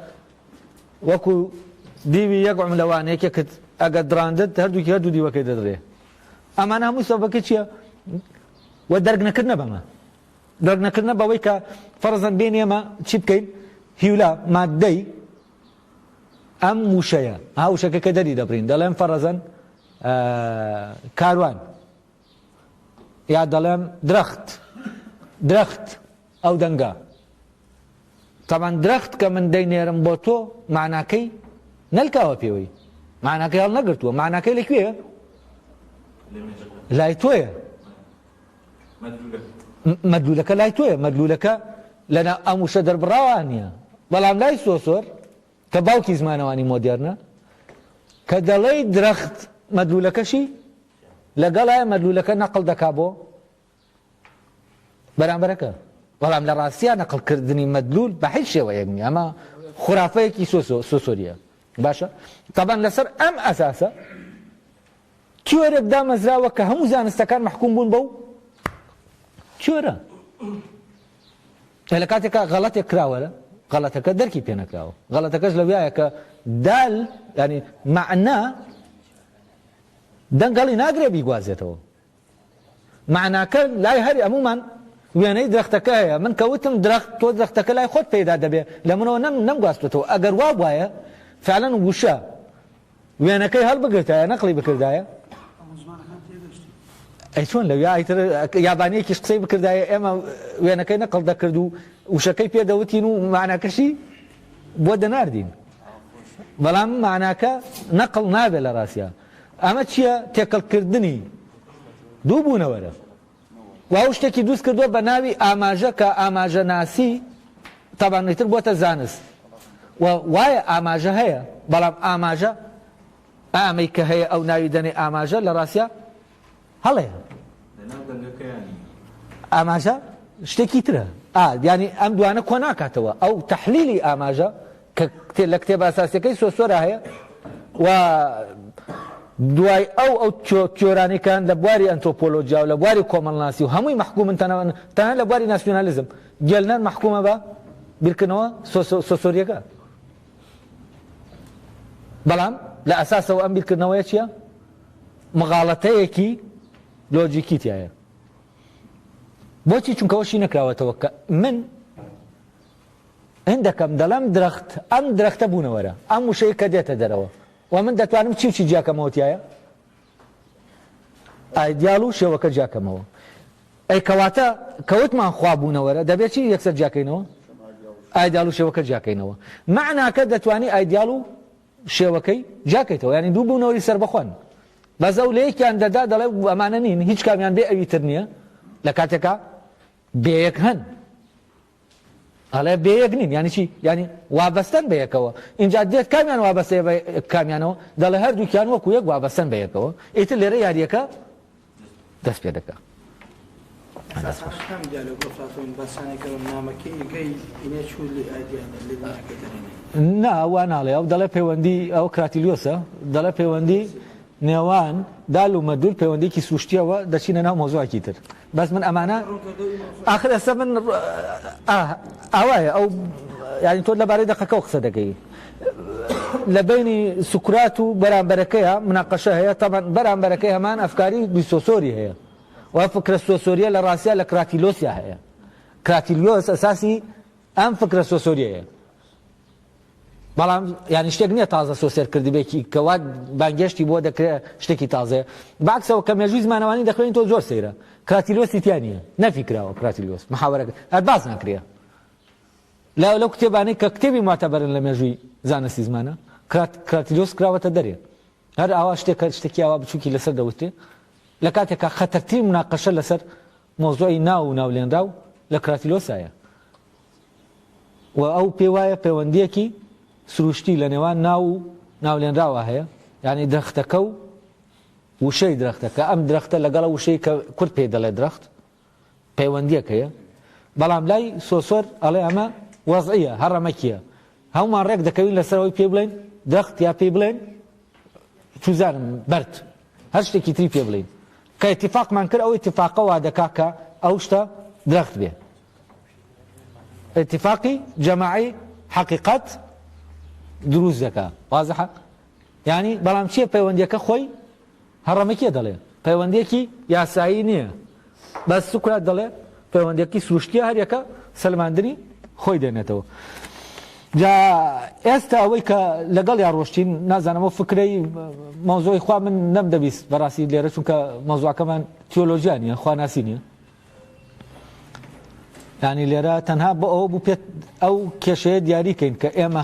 وەکو دیوی یەک عملەوان یەکێکت ئەگەر دراندت هەردووکی هەردوو دیوەکەی دەدرێ ئەمان هەموو سەبەکە چییە و دەرگنەکردنە بەمە درک نەکردنە بەوەی کە فەرزەن بێنی ئێمە چی بکەین هیولا ماددەی ئەم وشەیە ها وشەکە کە دەری دەبرین دەڵێن فەرەزەن کاروان یا دەڵێن درەخت درەخت ئەو دەنگە تەمان درەخت کە من دەینێرم بۆ تۆ ماناکەی نەلکاوە پێوەی ماناکەی هەڵ نەگرتووە ماناکەی لەکوێ لای تۆیە مەدلولەکە لای تۆیە مەدلولەکە لەنا ئەم وشە دەربڕاوە نییە بەڵام لای سۆسۆر کە باوکی زمانەوانی مۆدێرنە کە دەڵێی درەخت مەدلولەکەشی لەگەڵای مەدلولەکە نەقل دەکا بۆ بەرامبەرەکە بەڵام لە ڕاستیا نەقلکردنی مەدلول بە هیچ شێوەیەک نیە ئەمە خورافەیەکی سۆسۆریە باشە تەبەن لەسەر ئەم ئەساسە تیۆرێک دامەزراوە کە هەموو زانستەکان مەحکووم بوون بەو تیۆرە لە کاتێکا غەڵەتێک کراوە لە غەڵەتەکە دەرکی پێ نەکراوە غەڵەتەکەش لەویایە کە دال ینی معنا دەنگەڵی ناگرێ بیگوازێتەوە مەعناکە لای هەر هەموومان وێنەی درەختەکە هەیە، من کە وتم درەخت، تۆ درەختەکە لای خۆت پەیدا دەبێ، لە منەوە نەم نەمگواستووەتەوە، ئەگەر وا بوایە فعلا وشە وێنەکەی هەڵبگرتایە نەقڵی بکردایە، ئەی چۆن لەویا ئیتر یابانییەکیش قسەی بکردایە ئێمە وێنەکەی نەقڵ دەکرد و وشەکەی پێ دەوتین و مەعناکەشی بۆ دەناردین، بەڵام مەعناکە نەقڵ نابێ لە ڕاستیا. ئەمە چیە تێکەڵ کردنی دوو بوونەوەرە و ئەو شتێکی دووست کردووە بە ناوی ئاماژە کە ئاماژە ناسی تابان ئیتر بۆتە زانست و وایە ئاماژە هەیە بەڵام ئاماژە ئامەی کە هەیە ئەو ناوی دەنێ ئاماژە لە ڕاستە هەڵەیە. لەناو دەنگەکەیانی. ئاماژە شتێکی ترە. ئا یانی ئەم دوانە کۆ ناکاتەوە ئەو تەحلیلی ئاماژە کە کتێ لە کتێبە ئەساسیەکەی سۆسۆرا هەیە و دوای ئەو ئەو تیۆ تیۆرانی کە هەن لە بواری ئەنتۆپۆلۆجیا و لە بواری کۆمەڵناسی و هەمووی مەحکوومن تەنەوەن تەنها لە بواری ناسیۆنالیزم گێلنەر مەحکوومە بە بیرکردنەوە سۆسۆ سۆسۆریەکە بەڵام لە ئەساسەوە ئەم بیرکردنەوەیە چییە؟ مغاڵەتەیەکی لۆجیکی تیایە بۆچی چونکەەوەشی نەکراوەتەوە کە من هندەکەم دەڵم درەخت ئەم درەختە بوونەوەرە ئەم وشەیە کە دێتە دەرەوە و من دەتوانم چی چی جیاکەمەوەتیایە ئایدیال و شێوەکە جیاکەمەوە ئەی کەواتە کەوتمان خوا بوونەوەرە دەبێت چی یەکسەر جیاکەینەوە ئایدیال و شێوەکە جیاکەینەوە معناکە دەتوانانی ئایدیال و شێوەکەی جیاکەیتەوە یانی دوو بوونەوەری سەربەخۆن بەس ئەو لەیەکیان دەدا دەڵێ ئەمانە نین هیچ کامیان بێ ئەوی تر نییە لە کاتێکا بەیەک هەن ئەڵێ بەیەک نین ینی چی ینی وابەستن بە یەکەوە اینجا دێت کامیان وابەستێ کامیانەوە دەڵێ هەردووکیان وەکو یەک وابەستن بە یەکەوە ئیتر لێرە یاریەکە دەست پێ دەکا. نا وا ناڵێ ئەو دەڵێ پەیوەندی ئەو کراتیلیۆسە دەڵێ پەیوەندی نێوان دال و مەدول پەیوەندێکی سوشتیەوە دەچینە ناو مۆزوعکی تر بەس من ئەمانە آخر ئەسە من ئاوایە ئەو یاری تۆ لەبارەی دەقەکە قسە دەکەی لە بەینی سوکرات و بەرامبەرەکەیا مناقەشە هەیە، تەبعەن بەرامبەرەکەی هەمان ئەفکاری بیسۆسۆری هەیە و ئەو فکرە سۆسۆریە لە ڕاستیا لە کراتیلۆسیا هەیە. کراتیلیۆس ئەساسی ئەم فکرە سۆسۆریەیە. بەڵام یانی شتێک نییە تازە سۆسێر کردبێکی کە وا بانگێشتی بۆ دەکرێت شتێکی تازەیە باکسەوە کە مێژووی زمانەوانی دەخوێنی تۆ زۆر سەیرە کراتیلۆسی تیانە نەفی کراوە کراتیلۆس محاوەرەکە هەر باس ناکرێت لایەو لەو کتێبانەی کە کتێبی موعتەبەرن لە مێژووی زانستی زمانە، کرات، کراتیدۆس کراوەتە دەرێ. هەر ئاوا شتێک کە شتێکی ئاوا بچووکی لە سەر دەوترێ، لە کاتێکا خەتەرترین مناقەشە لە سەر مەوزوعی ناو و ناولێنراو لە کراتیلۆسایە و ئەو پێی وایە پێوەندییەکی سرووشتی لە نێوان ناو و ناولێنراوە هەیە، یانی درەختەکە و وشەی درەختەکە، ئەم درەختە لەگەڵ ئەو وشەی کە کورد پێی دەڵێ درەخت، پەیوەندیەک هەیە بەڵام لای سۆسۆر ئەڵێ ئەمە وەزعە هەڕەمەکیە هەمومان ڕێک دەکەوین لەسەر ئەوی پێ بڵێن دەخت یا پێی بڵێن چوزانم بەرد هەر شتێکی تری پێ بڵین کە اتفاقمان کرد ئەو اتفاقەوە دەکا کە ئەو شتە درەخت بێ اتفاقی جەماعی حقیقت دروست دەکە وازحە یانی بەڵام چیە پەیوەندیەکە خۆی هەڕەمە کێ دەڵێ پەیوەندێکی یاسایی نییە بەس سوکرات دەڵێ پەیوەندێکی سروشتیە هەریەکە سەلماندنی خۆی دێنێتەوە جا ئێستا ئەوەی کە لەگەڵ یا ڕۆشتین نازانەوە فکرەی مۆزۆی خوا من نەم دەبیست بەڕاستی لێرە چونکە مۆزوعەکەمان تیۆلۆژیانە خواناسی نیە ینی لێرە تەنها بۆ ئەوە بوو پێت ئەو کێشەیە دیاریکەین کە ئێمە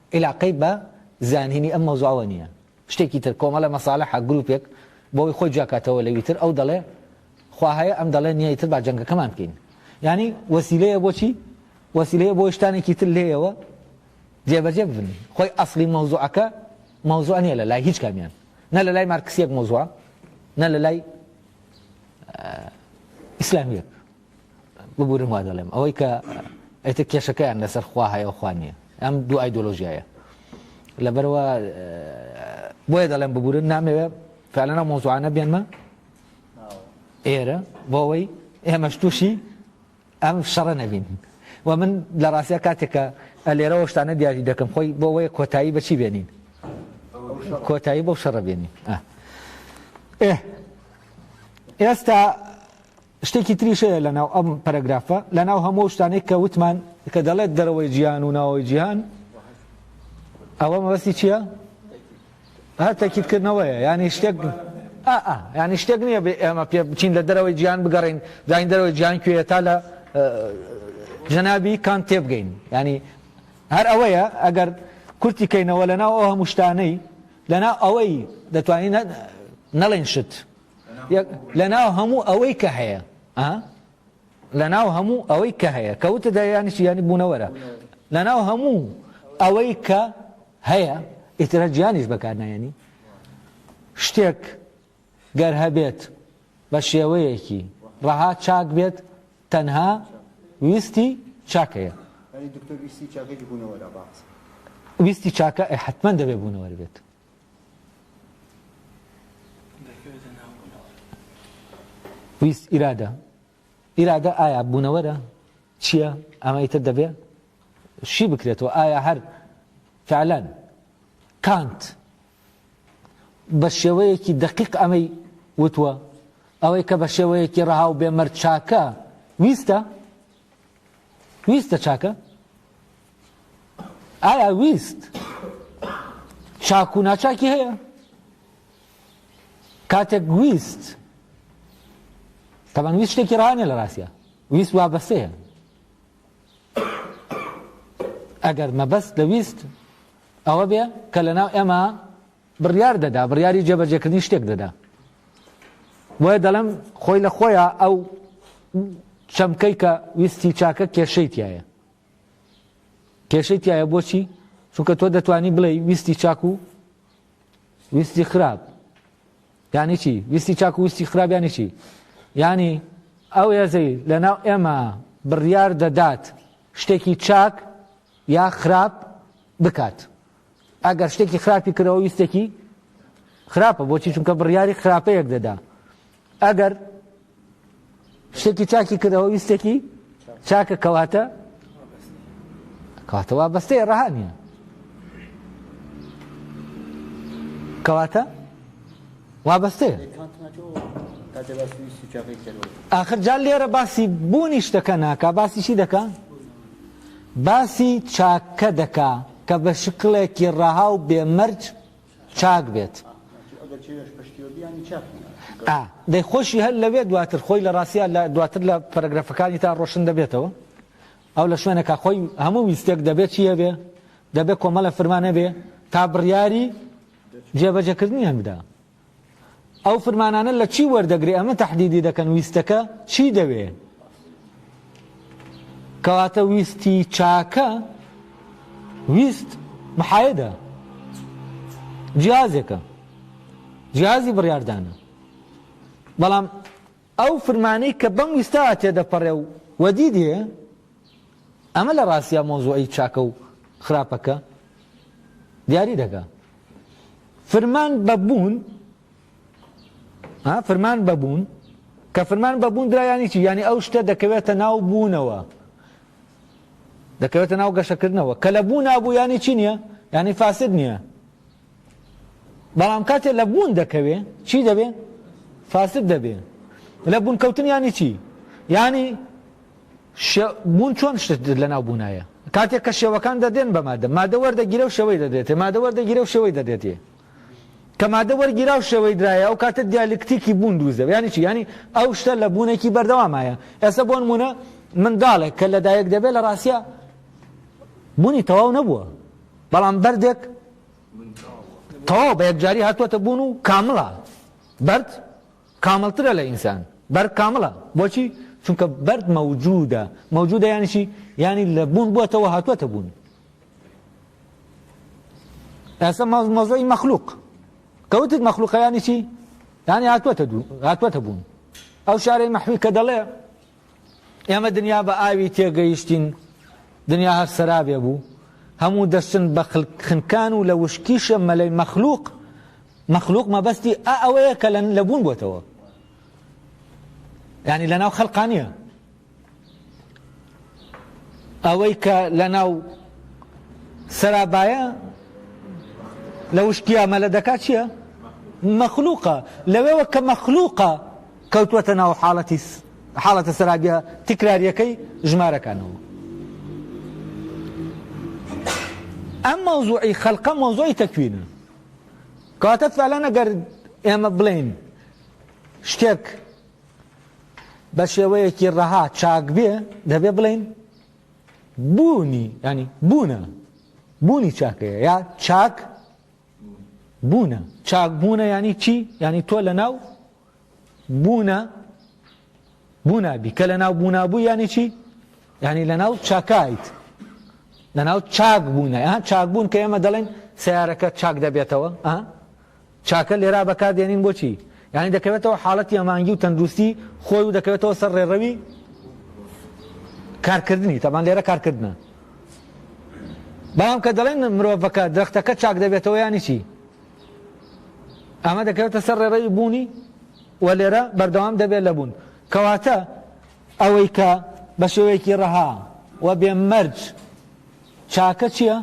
ئیلاقەی بە زانینی ئەم مەوزوعەوە نییە. شتێکی تر، کۆمەڵە مەسالەحە، گروپێک، بۆ ئەوەی خۆی جیاکاتەوە لەوی تر، ئەو دەڵێ، خوا هەیە، ئەم دەڵێ، نییە، ئیتر با جەنگەکەمان بکەین. یانی وەسیلەیە بۆ چی؟ وەسیلەیە بۆ ئەوەی شتانێکی تر لێیەوە جێبەجێ ببن. خۆی ئەسڵی مەوزوعەکە، مەوزوع نییە لە لای هیچ کامیان. نە لە لای مارکسییەک مەوزوعە، نە لە لای ئیسلامییەک. ببورن وادەڵێم ئەوەی کە ئەیتر کێشەکەیان لەسەر خوا هەیە و خوا نییە ئەم دوو ئایدۆلۆژیایە لەبەرەوە بۆیە دەڵێم ببورن نامەوێ فعلەنە مۆزوعانە بێنمە ئێرە بۆەوەی ئێمەش تووشی ئەم شەڕە نەبین و من لە ڕاستە کاتێکە لێرەوە شتانە دیاری دەکەم خۆی بۆەوەی کۆتایی بەچی بێنین کۆتایی بۆ شەڕە بێنین ئێستا شتێکی تریش هەیە لە ناو ئەم پەرەگرافە، لە ناو هەموو ئەو شتانەی کە وتمان، کە دەڵێت دەرەوەی جیهان و ناوەوەی جیهان، ئەوە مەبەستی چییە؟ هەر تەکیدکردنەوەیە، یانی شتێک، ئا، ئا، یانی شتێک نییە بێ ئێمە پێ بچین لە دەرەوەی جیهان بگەڕێین، بزانین دەرەوەی جیهان کوێیە تا لە جەنابی کانت تێبگەین، یانی هەر ئەوەیە، ئەگەر کورتی کەینەوە لە ناو ئەو هەموو شتانەی، لە ناو ئەوەی دەتوانین نەڵێین شت. یەک لەناو هەموو ئەوەی کە هەیە ئا لەناو هەموو ئەوەی کە هەیە کەوتە دەیانی شیانی بوونەوەرە لەناو هەموو ئەوەی کە هەیە ئیترە جیانیش بەکارنایەنی شتێک گەر هەبێت بە شێوەیەکی ڕەها چاک بێت تەنها ویستی چاکەیە ویستی چاکە حتمما دەبێ بوونەوەر بێت ویست ئیرادە ئیرادە ئایا بوونەوەرە چییە ئەمە ئیتر دەبێ شی بکرێتەوە ئایا هەر فعلەن کانت بە شێوەیەکی دقیق ئەمەی وتووە ئەوەی کە بە شێوەیەکی ڕەها و بێمەرچاکە ویستە ویستە چاکە؟ ئایا ویست چاک و ناچاکی هەیە؟ کاتێک ویست تەبان ویست شتێکی ڕانێ لە ڕاستە ویست وا بەسەیە ئەگەر مەبەست لە ویست ئەوە بێ کە لە ناو ئێمە بڕیار دەدا بڕیاری جێبەجێکردنی شتێک دەدا بۆیە دەڵم خۆی لە خۆیە ئەو چەمکەی کە ویستی چاکە کێشەی تایە کێشەی تایە بۆچی چونکە تۆ دەتوانی بڵێ ویستی چاک و ویستی خراپ یانی چی ویستی چاک و ویستی خراپ یانی چی ینی ئەو هێزەی لەناو ئێمە بڕیار دەدات شتێکی چاک یا خراپ بکات ئەگەر شتێکی خراپی کردەوە ویستێکی خراپە بۆچی چونکە بڕیاری خراپەیەک دەدا ئەگەر شتێکی چاکی کردەوە ویستێکی چاکە کەواتە کاتەوە بەستەی ڕەها نیە کەواتە وابەستەیە آخر جا لێرە باسی بوونی شتەکە ناکە باسیشی دەکە باسی چاکە دەکە کە بە شکڵێکی ڕەها و بێ مەرج چاک بێت. ئا. دەی خۆشی هەر لەوێ دواتر خۆی لە ڕاستیا لە دواتر لە پەرەگرەفەکانی تا ڕۆشن دەبێتەوە. ئەو لە شوێنێکا خۆی هەموو ویستێک دەبێ چی هەبێ؟ دەبێ کۆمەڵە فرمان هەبێ تا بڕیاری جێبەجێکردنیان بدا. ئەو فرمانانە لە چی وەردەگرێ ئەمە تەحدیدی دەکەن ویستەکە چی دەوێ کەواتە ویستی چاکە ویست محایدە جیازێکە جیازی بڕاردانە بەڵام ئەو فرمانەی کە بەم ویستا تێدەپەڕێ و وەدی دێ ئەمە لە ڕاستیا مەوزوعی چاکە و خراپەکە دیاری دەکا. فرمان بە بوون ها فرمان بە بوون کە فرمان بە بوون درا یانی چی یانی ئەو شتە دەکەوێتە ناو بوونەوە دەکەوێتە ناو گەشەکردنەوە کە لە بوو نابوو یانی چی نییە یانی فاسد نییە بەڵام کاتێ لە بوون دەکەوێ چی دەبێ فاسد دەبێ لە بوون کەوتن ینی چی ینی بوون چۆن شت لە ناو بوونایە کاتێک کە شێوەکان دەدێن بە مادە مادە وەردەگیرە و شەوەی دەدێتێ مادە وەردەگیرە و شەوەی دەدێتێ کە مادە وەرگیرا و شێوەی درایە ئەو کاتە دیالکتیکی بوون دووزە ینی چی ینی ئەو شتە لە بوونێکی بەردەوامایە ئێستا بۆن مونە منداڵێک کە لەدایک دەبێت لە ڕاستە بوونی تەواو نەبووە بەڵام بەردێک تەواو بە یەکجاری هاتووەتە بوون و کامڵە. بەرد کامڵترە لە ئینسان. بەرد کامڵە. بۆچی؟ چونکە بەرد مەوجودە. مەوجودە یانی چی؟ یانی لە بوون بووەتەوە هاتووەتە بوون. ئێستا مەوزوعی مەخلوق. کە وتت مەخلوقە یانی چی؟ یانی هاتووەتە بوون. ئەو شارەی مەحوی کە دەڵێ ئێمە دنیا بە ئاوی تێگەیشتین، دنیا هەر سەرابێ بوو، هەموو دەچن بە خنکان و لە وشکیشە مەلەی مەخلوق، مەخلوق مەبەستی ئا ئەوەیە کە لە بوون بۆتەوە، یانی لەناو خەلقا نییە. ئەوەی کە لە ناو سەرابایە لە وشکیا مەلە دەکات چییە؟ مەخلوقە لەوێوە کە مەخلوقە کەوتووەتە ناو حاڵەتی حاڵەتە سەرابیە تکراریەکەی ژمارەکانەوە. ئەم مەوزوعی خەلقە مەوزوعی تەکوینە کەواتە فعلەن ئەگەر ئێمە بڵێین شتێک بە شێوەیەکی ڕەها چاک بێ دەبێ بڵێین بوونی ینی بوونە بوونی چاکەیە یا چاک بوونە چاک بوونە ینی چی ینی تۆ لە ناو بوونە بوونابی کە لە ناو بوونابوو یانی چی یعنی لە ناو چاکایت لە ناو چاک بوونە ها چاک بوون کە ئێمە دەڵێن سیارەکە چاک دەبێتەوە ئە چاکە لێرا بەکار دێنین بۆچی یعنی دەکەوێتەوە حاڵەتی ئەمانگی و تەندروستی خۆی و دەکەوێتەوە سەر ڕێڕەوی کارکردنی تەبان لێرە کارکردە بەڵام کە دەڵێن مرۆڤەکە درختەکە چاک دەبێتەوە ینی چی ئەمە دەکەوێتە سەر ڕێڕەوی بوونی و لێرە بەردەوام دەبێت لە بوون کەواتە ئەوەی کە بە شێوەیەکی ڕەها و بێ مەرج چاکە چییە؟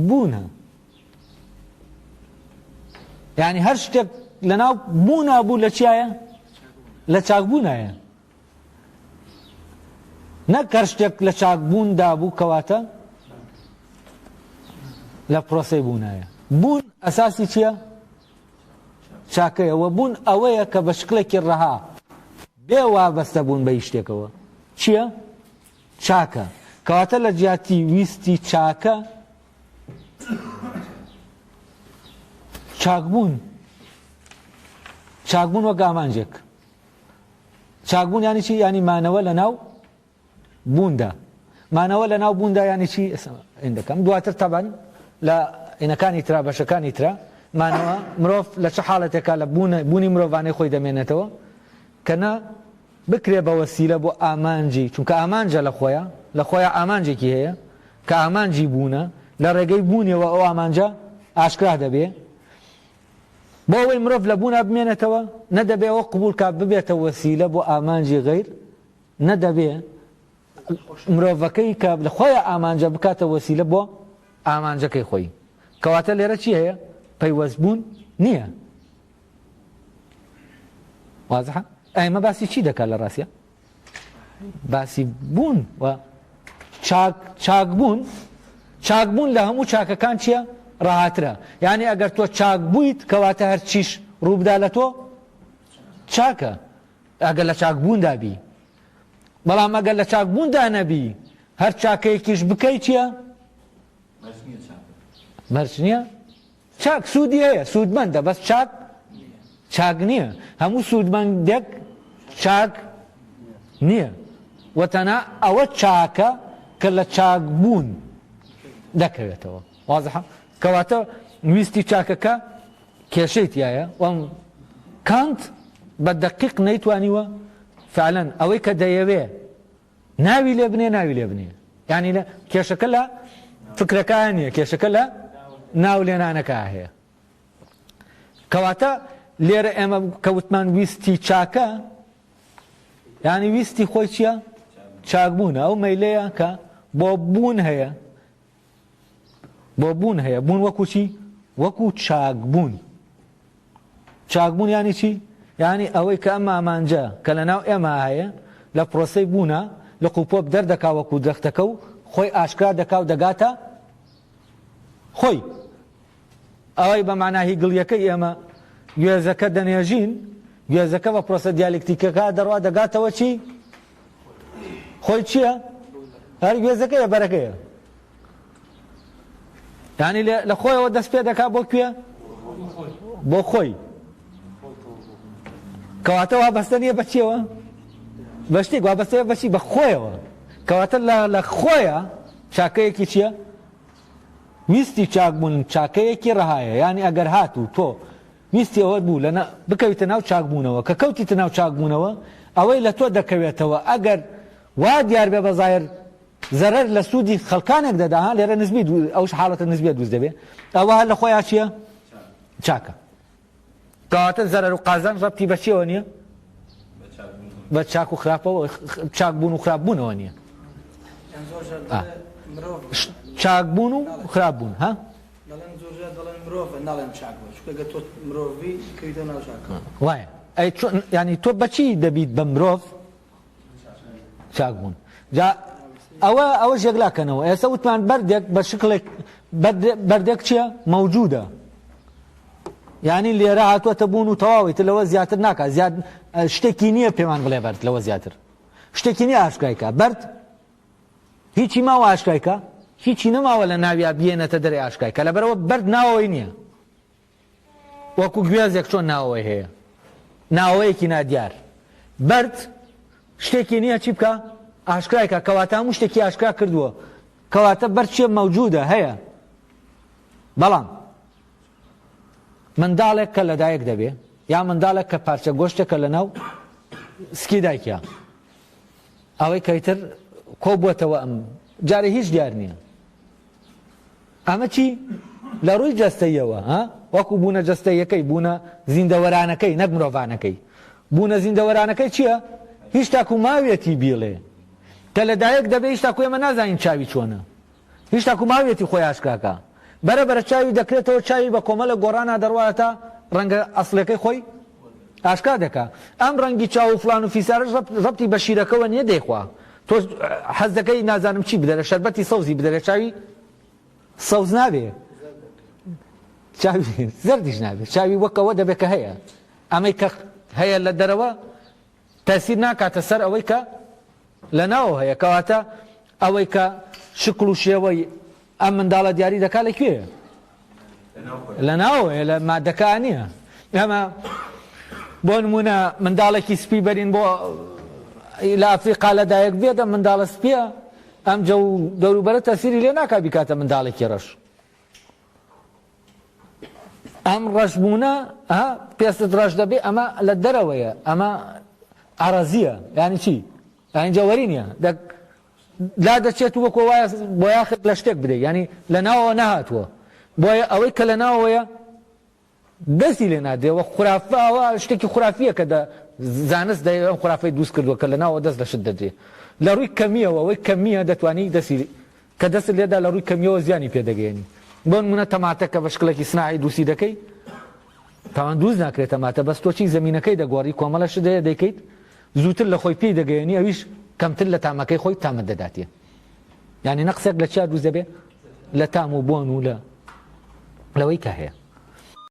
بوونە یعنی هەر شتێک لەناو بوونا بوو لە چایە لە چاکبوونایە نەک هەر شتێک لە چاک بوون دابوو کەواتە لە پرۆسەی بوونایە بوون ئەساسی چییە؟ چاکەیەوە بوون ئەوەیە کە بە شکلێکی ڕەها بێ وابەستە بوون بە شتێکەوە چییە؟ چاکە کەواتە لە جیاتی ویستی چاکە چاکبوون چاکبوون وەک ئامانجێک چاکبوون یانی چی یانی مانەوە لە ناو بووندا مانەوە لە ناو بووندا یانی چی ئەندەکەم دواتر تەبەن لە ئینەکانی ترا بەشەکانی ترا مانەوە مرۆڤ لە چه حاڵەتێکا لە بوون بوونی مرۆڤانەی خۆی دەمێنێتەوە کە نە بکرێ بە وەسیلە بۆ ئامانجی چونکە ئامانجە لە خۆیان لە خۆیان ئامانجێکی هەیە کە ئامانجی بوونە لە ڕێگەی بوونیەوە ئەو ئامانجە ئاشکرا دەبێ بۆ ئەوەی مرۆڤ لە بوونا بمێنێتەوە، نە دەبێ ئەوە قبووڵ کا ببێتە وەسیلە بۆ ئامانجی غەیر، نە دەبێ مرۆڤەکەی کە لە خۆیە ئامانجە بکاتە وەسیلە بۆ ئامانجەکەی خۆی. کەواتە لێرە چی هەیە؟ پەیوەستبوون نییە. وازحە؟ ئەمە باسی چی دەکات لە ڕاستیا؟ باسی بوون و چاک چاک بوون چاک بوون لە هەموو چاکەکان چییە ڕاهاترە یعنی ئەگەر تۆ چاک بوویت کەواتە هەرچیش ڕووبدا لە تۆ چاکە ئەگەر لە چاک بووندا بی بەڵام ئەگەر لە چاک بووندا نەبی هەر چاکەیەکیش بکەیت چییە مەرج نییە چاک سوودی هەیە سوودمەندە بەس چاک چاک نییە هەموو سوودمەندێک چاک نییە وە تەنها ئەوە چاکە کە لە چاک بوون دەکەوێتەوە وازحە کەواتە ویستی چاکەکە کێشەی تایە وەم کانت بە دەقیق نەیتوانیوە فعلەن ئەوەی کە دەیەوێ ناوی لێ بنێ ناوی لێ بنێ یعنی لە کێشەکە لە فکرەکان نیە کێشەکە لە ناو لێنانەکە هەیە کەواتە لێرە ئێمە کەوتمان ویستی چاکە ینی ویستی خۆی چییە چاکبوونە ئەو مەیلەیە کە بۆ بوون هەیە بۆ بوون هەیە، بوون وەکو چی؟ وەکو چاکبوون. چاکبوون یانی چی؟ یانی ئەوەی کە ئەم ئامانجە کە لە ناو ئێمە هەیە لە پرۆسەی بوونا لق و پۆپ دەردەکا وەکو درەختەکە و خۆی ئاشکرا دەکا و دەگاتە خۆی. ئەوەی بە مانا هی گڵیەکەی ئێمە گوێزەکە دەنێژین، گوێزەکە بە پرۆسە دیالکتیکەکە دەڕوا دەگاتەوە چی؟ خۆی چییە؟ هەر گوێزەکەیە بەرەکەیە. یعنی لە خۆیەوە دەست پێ دەکا بۆ کوێ؟ بۆ خۆی. کەواتە وا بەستە نییە بە چیەوە؟ بە شتێک وا بەستەیە بەچی بە خۆیەوە. کەواتە لە خۆیە چاکەیەکی چییە؟ ویستی چاک بوون چاکەیەکی ڕەهایە یانی ئەگەر هات و تۆ ویستی ئەوەت بوو لە بکەویتە ناو چاک بوونەوە کە کەوتیتە ناو چاک بوونەوە ئەوەی لە تۆ دەکەوێتەوە ئەگەر وا دیار بێ بە زاهر زەرەر لە سوودی خەڵکانێک دەدا لێرە نسبی ئەوش حاڵەتە نسبیە دروست دەبێ ئەوە هەر لە خۆیان چییە چاکە کەواتە زەرەر و قازانج ڕەبتی بە چیەوە نییە؟ بە چاک و خراپەوە چاک بوون و خراپ بوونەوە نییە چاک بوون و خراپ بوون ها؟ وایە ئەی ینی تۆ بەچی دەبیت بە مرۆڤ چاک بوون جا ئەوە ئەوە ژێگلاکەنەوە ئێستا وتمان بەردێک بە شکڵێک بەردێک چیە مەوجودە ینی لێرە هاتووەتە بوون و تەواوی تر لەوە زیاتر ناکە زیاد شتێکی نییە پێمان بڵێ بەرد لەوە زیاتر شتێکی نیە ئاشکایکە بەرد هیچی ماوە ئاشکایکە هیچی نەماوە لە ناویا بێنەتە دەری ئاشکای کە لەبەرەوە بەرد ناوەوەی نییە وەکو گوێزێک چۆن ناوەوەی هەیە ناوەیەکی نادیار بەرد شتێکی نییە چی بکە ئاشکرایکە کەواتە هەموو شتێکی ئاشکرا کردووە کەواتە بەر چیە مەوجودە هەیە بەڵام منداڵێک کە لەدایک دەبێ یا منداڵێک کە پارچە گۆشتێکە لە ناو سکی دایکە ئەوەی کەیتر کۆ بووەتەوە ئەم جارە هیچ دیار نییە ئەمە چی؟ لە ڕووی جەستەییەوە، ها؟ وەکوو بوونە جەستەییەکەی، بوونە زیندەوەرانەکەی، نەک مرۆڤانەکەی. بوونە زیندەوەرانەکەی چییە؟ هیچ تاکوو ماویەتی بیڵێ. کە لە دایک دەبێ هیچ تاکوو ئێمە نازانین چاوی چۆنە. هیچ تاکوو ماویەتی خۆی ئاشکرا کا. بەرە بەرە چاوی دەکرێتەوە، چاوی بە کۆمەڵێک گۆڕانا دەڕواتە ڕەنگە ئەسڵیەکەی خۆی. ئاشکرا دەکا ئەم ڕەنگی چاو و فڵان و فیسارەش ڕەبتی بە شیرەکەوە نیە دەیخوا تۆش حەز دەکەی نازانم چی بدەرێ شەربەتی سەوزی بدەرێ چاوی سەوز نابێ چاوی زەردیش نابێ چاوی وەکەوە دەبێت کە هەیە ئەمەی کە هەیە لە دەرەوە تەئسیر ناکاتە سەر ئەوەی کە لە ناو هەیە کەواتە ئەوەی کە شکڵ و شێوەی ئەم منداڵە دیاری دەکات لە کوێ لە ناو لە مادەکە نییە ئەمە بۆ نمونە منداڵێکی سپی بەرین بۆ لە ئەفریقا لە دایک بێتە منداڵە سپیە ئەم جە و دەوروبەرە تەسیری لێ ناکە بیکاتە منداڵێکی ڕەش ئەم ڕەشبوونە پێستت ڕەش دەبێ ئەمە لە دەرەوەیە ئەمە ئارەزیە ینی چی ئەنجەوەری نیە لا دەچێت وەکۆ وایە بۆ یاخت لە شتێک بدەیت ینی لە ناوەوە نەهاتووە بۆیە ئەوەی کە لە ناوەیە دەستی لێ نادێ وە خورافە ئەوە شتێکی خورافیە کە دە زانست دە ئەم خورافەی دووست کردووە کە لە ناوە دەست لە شت دەدرێ لە ڕووی کەمیەوە ئەوەی کەمیە دەتوانی دەسی کە دەست لێدا لە ڕووی کەمیەوە زیانی پێدەگەێنی بۆن منە تەماتە کە بە شکلێکی سناعی دووسی دەکەی تاوان دووست ناکرێت تەماتە بەس تۆچی زمینەکەی دەگۆڕی کۆمەلە شت دەیە دەیکەیت زووتر لە خۆی پێی دەگەێنی ئەویش کەمتر لە تامەکەی خۆی تامە دەداتێ یعنی نەقسێک لە چیا دووست دەبێ لە تام و بۆن و لە لەوەی کە هەیە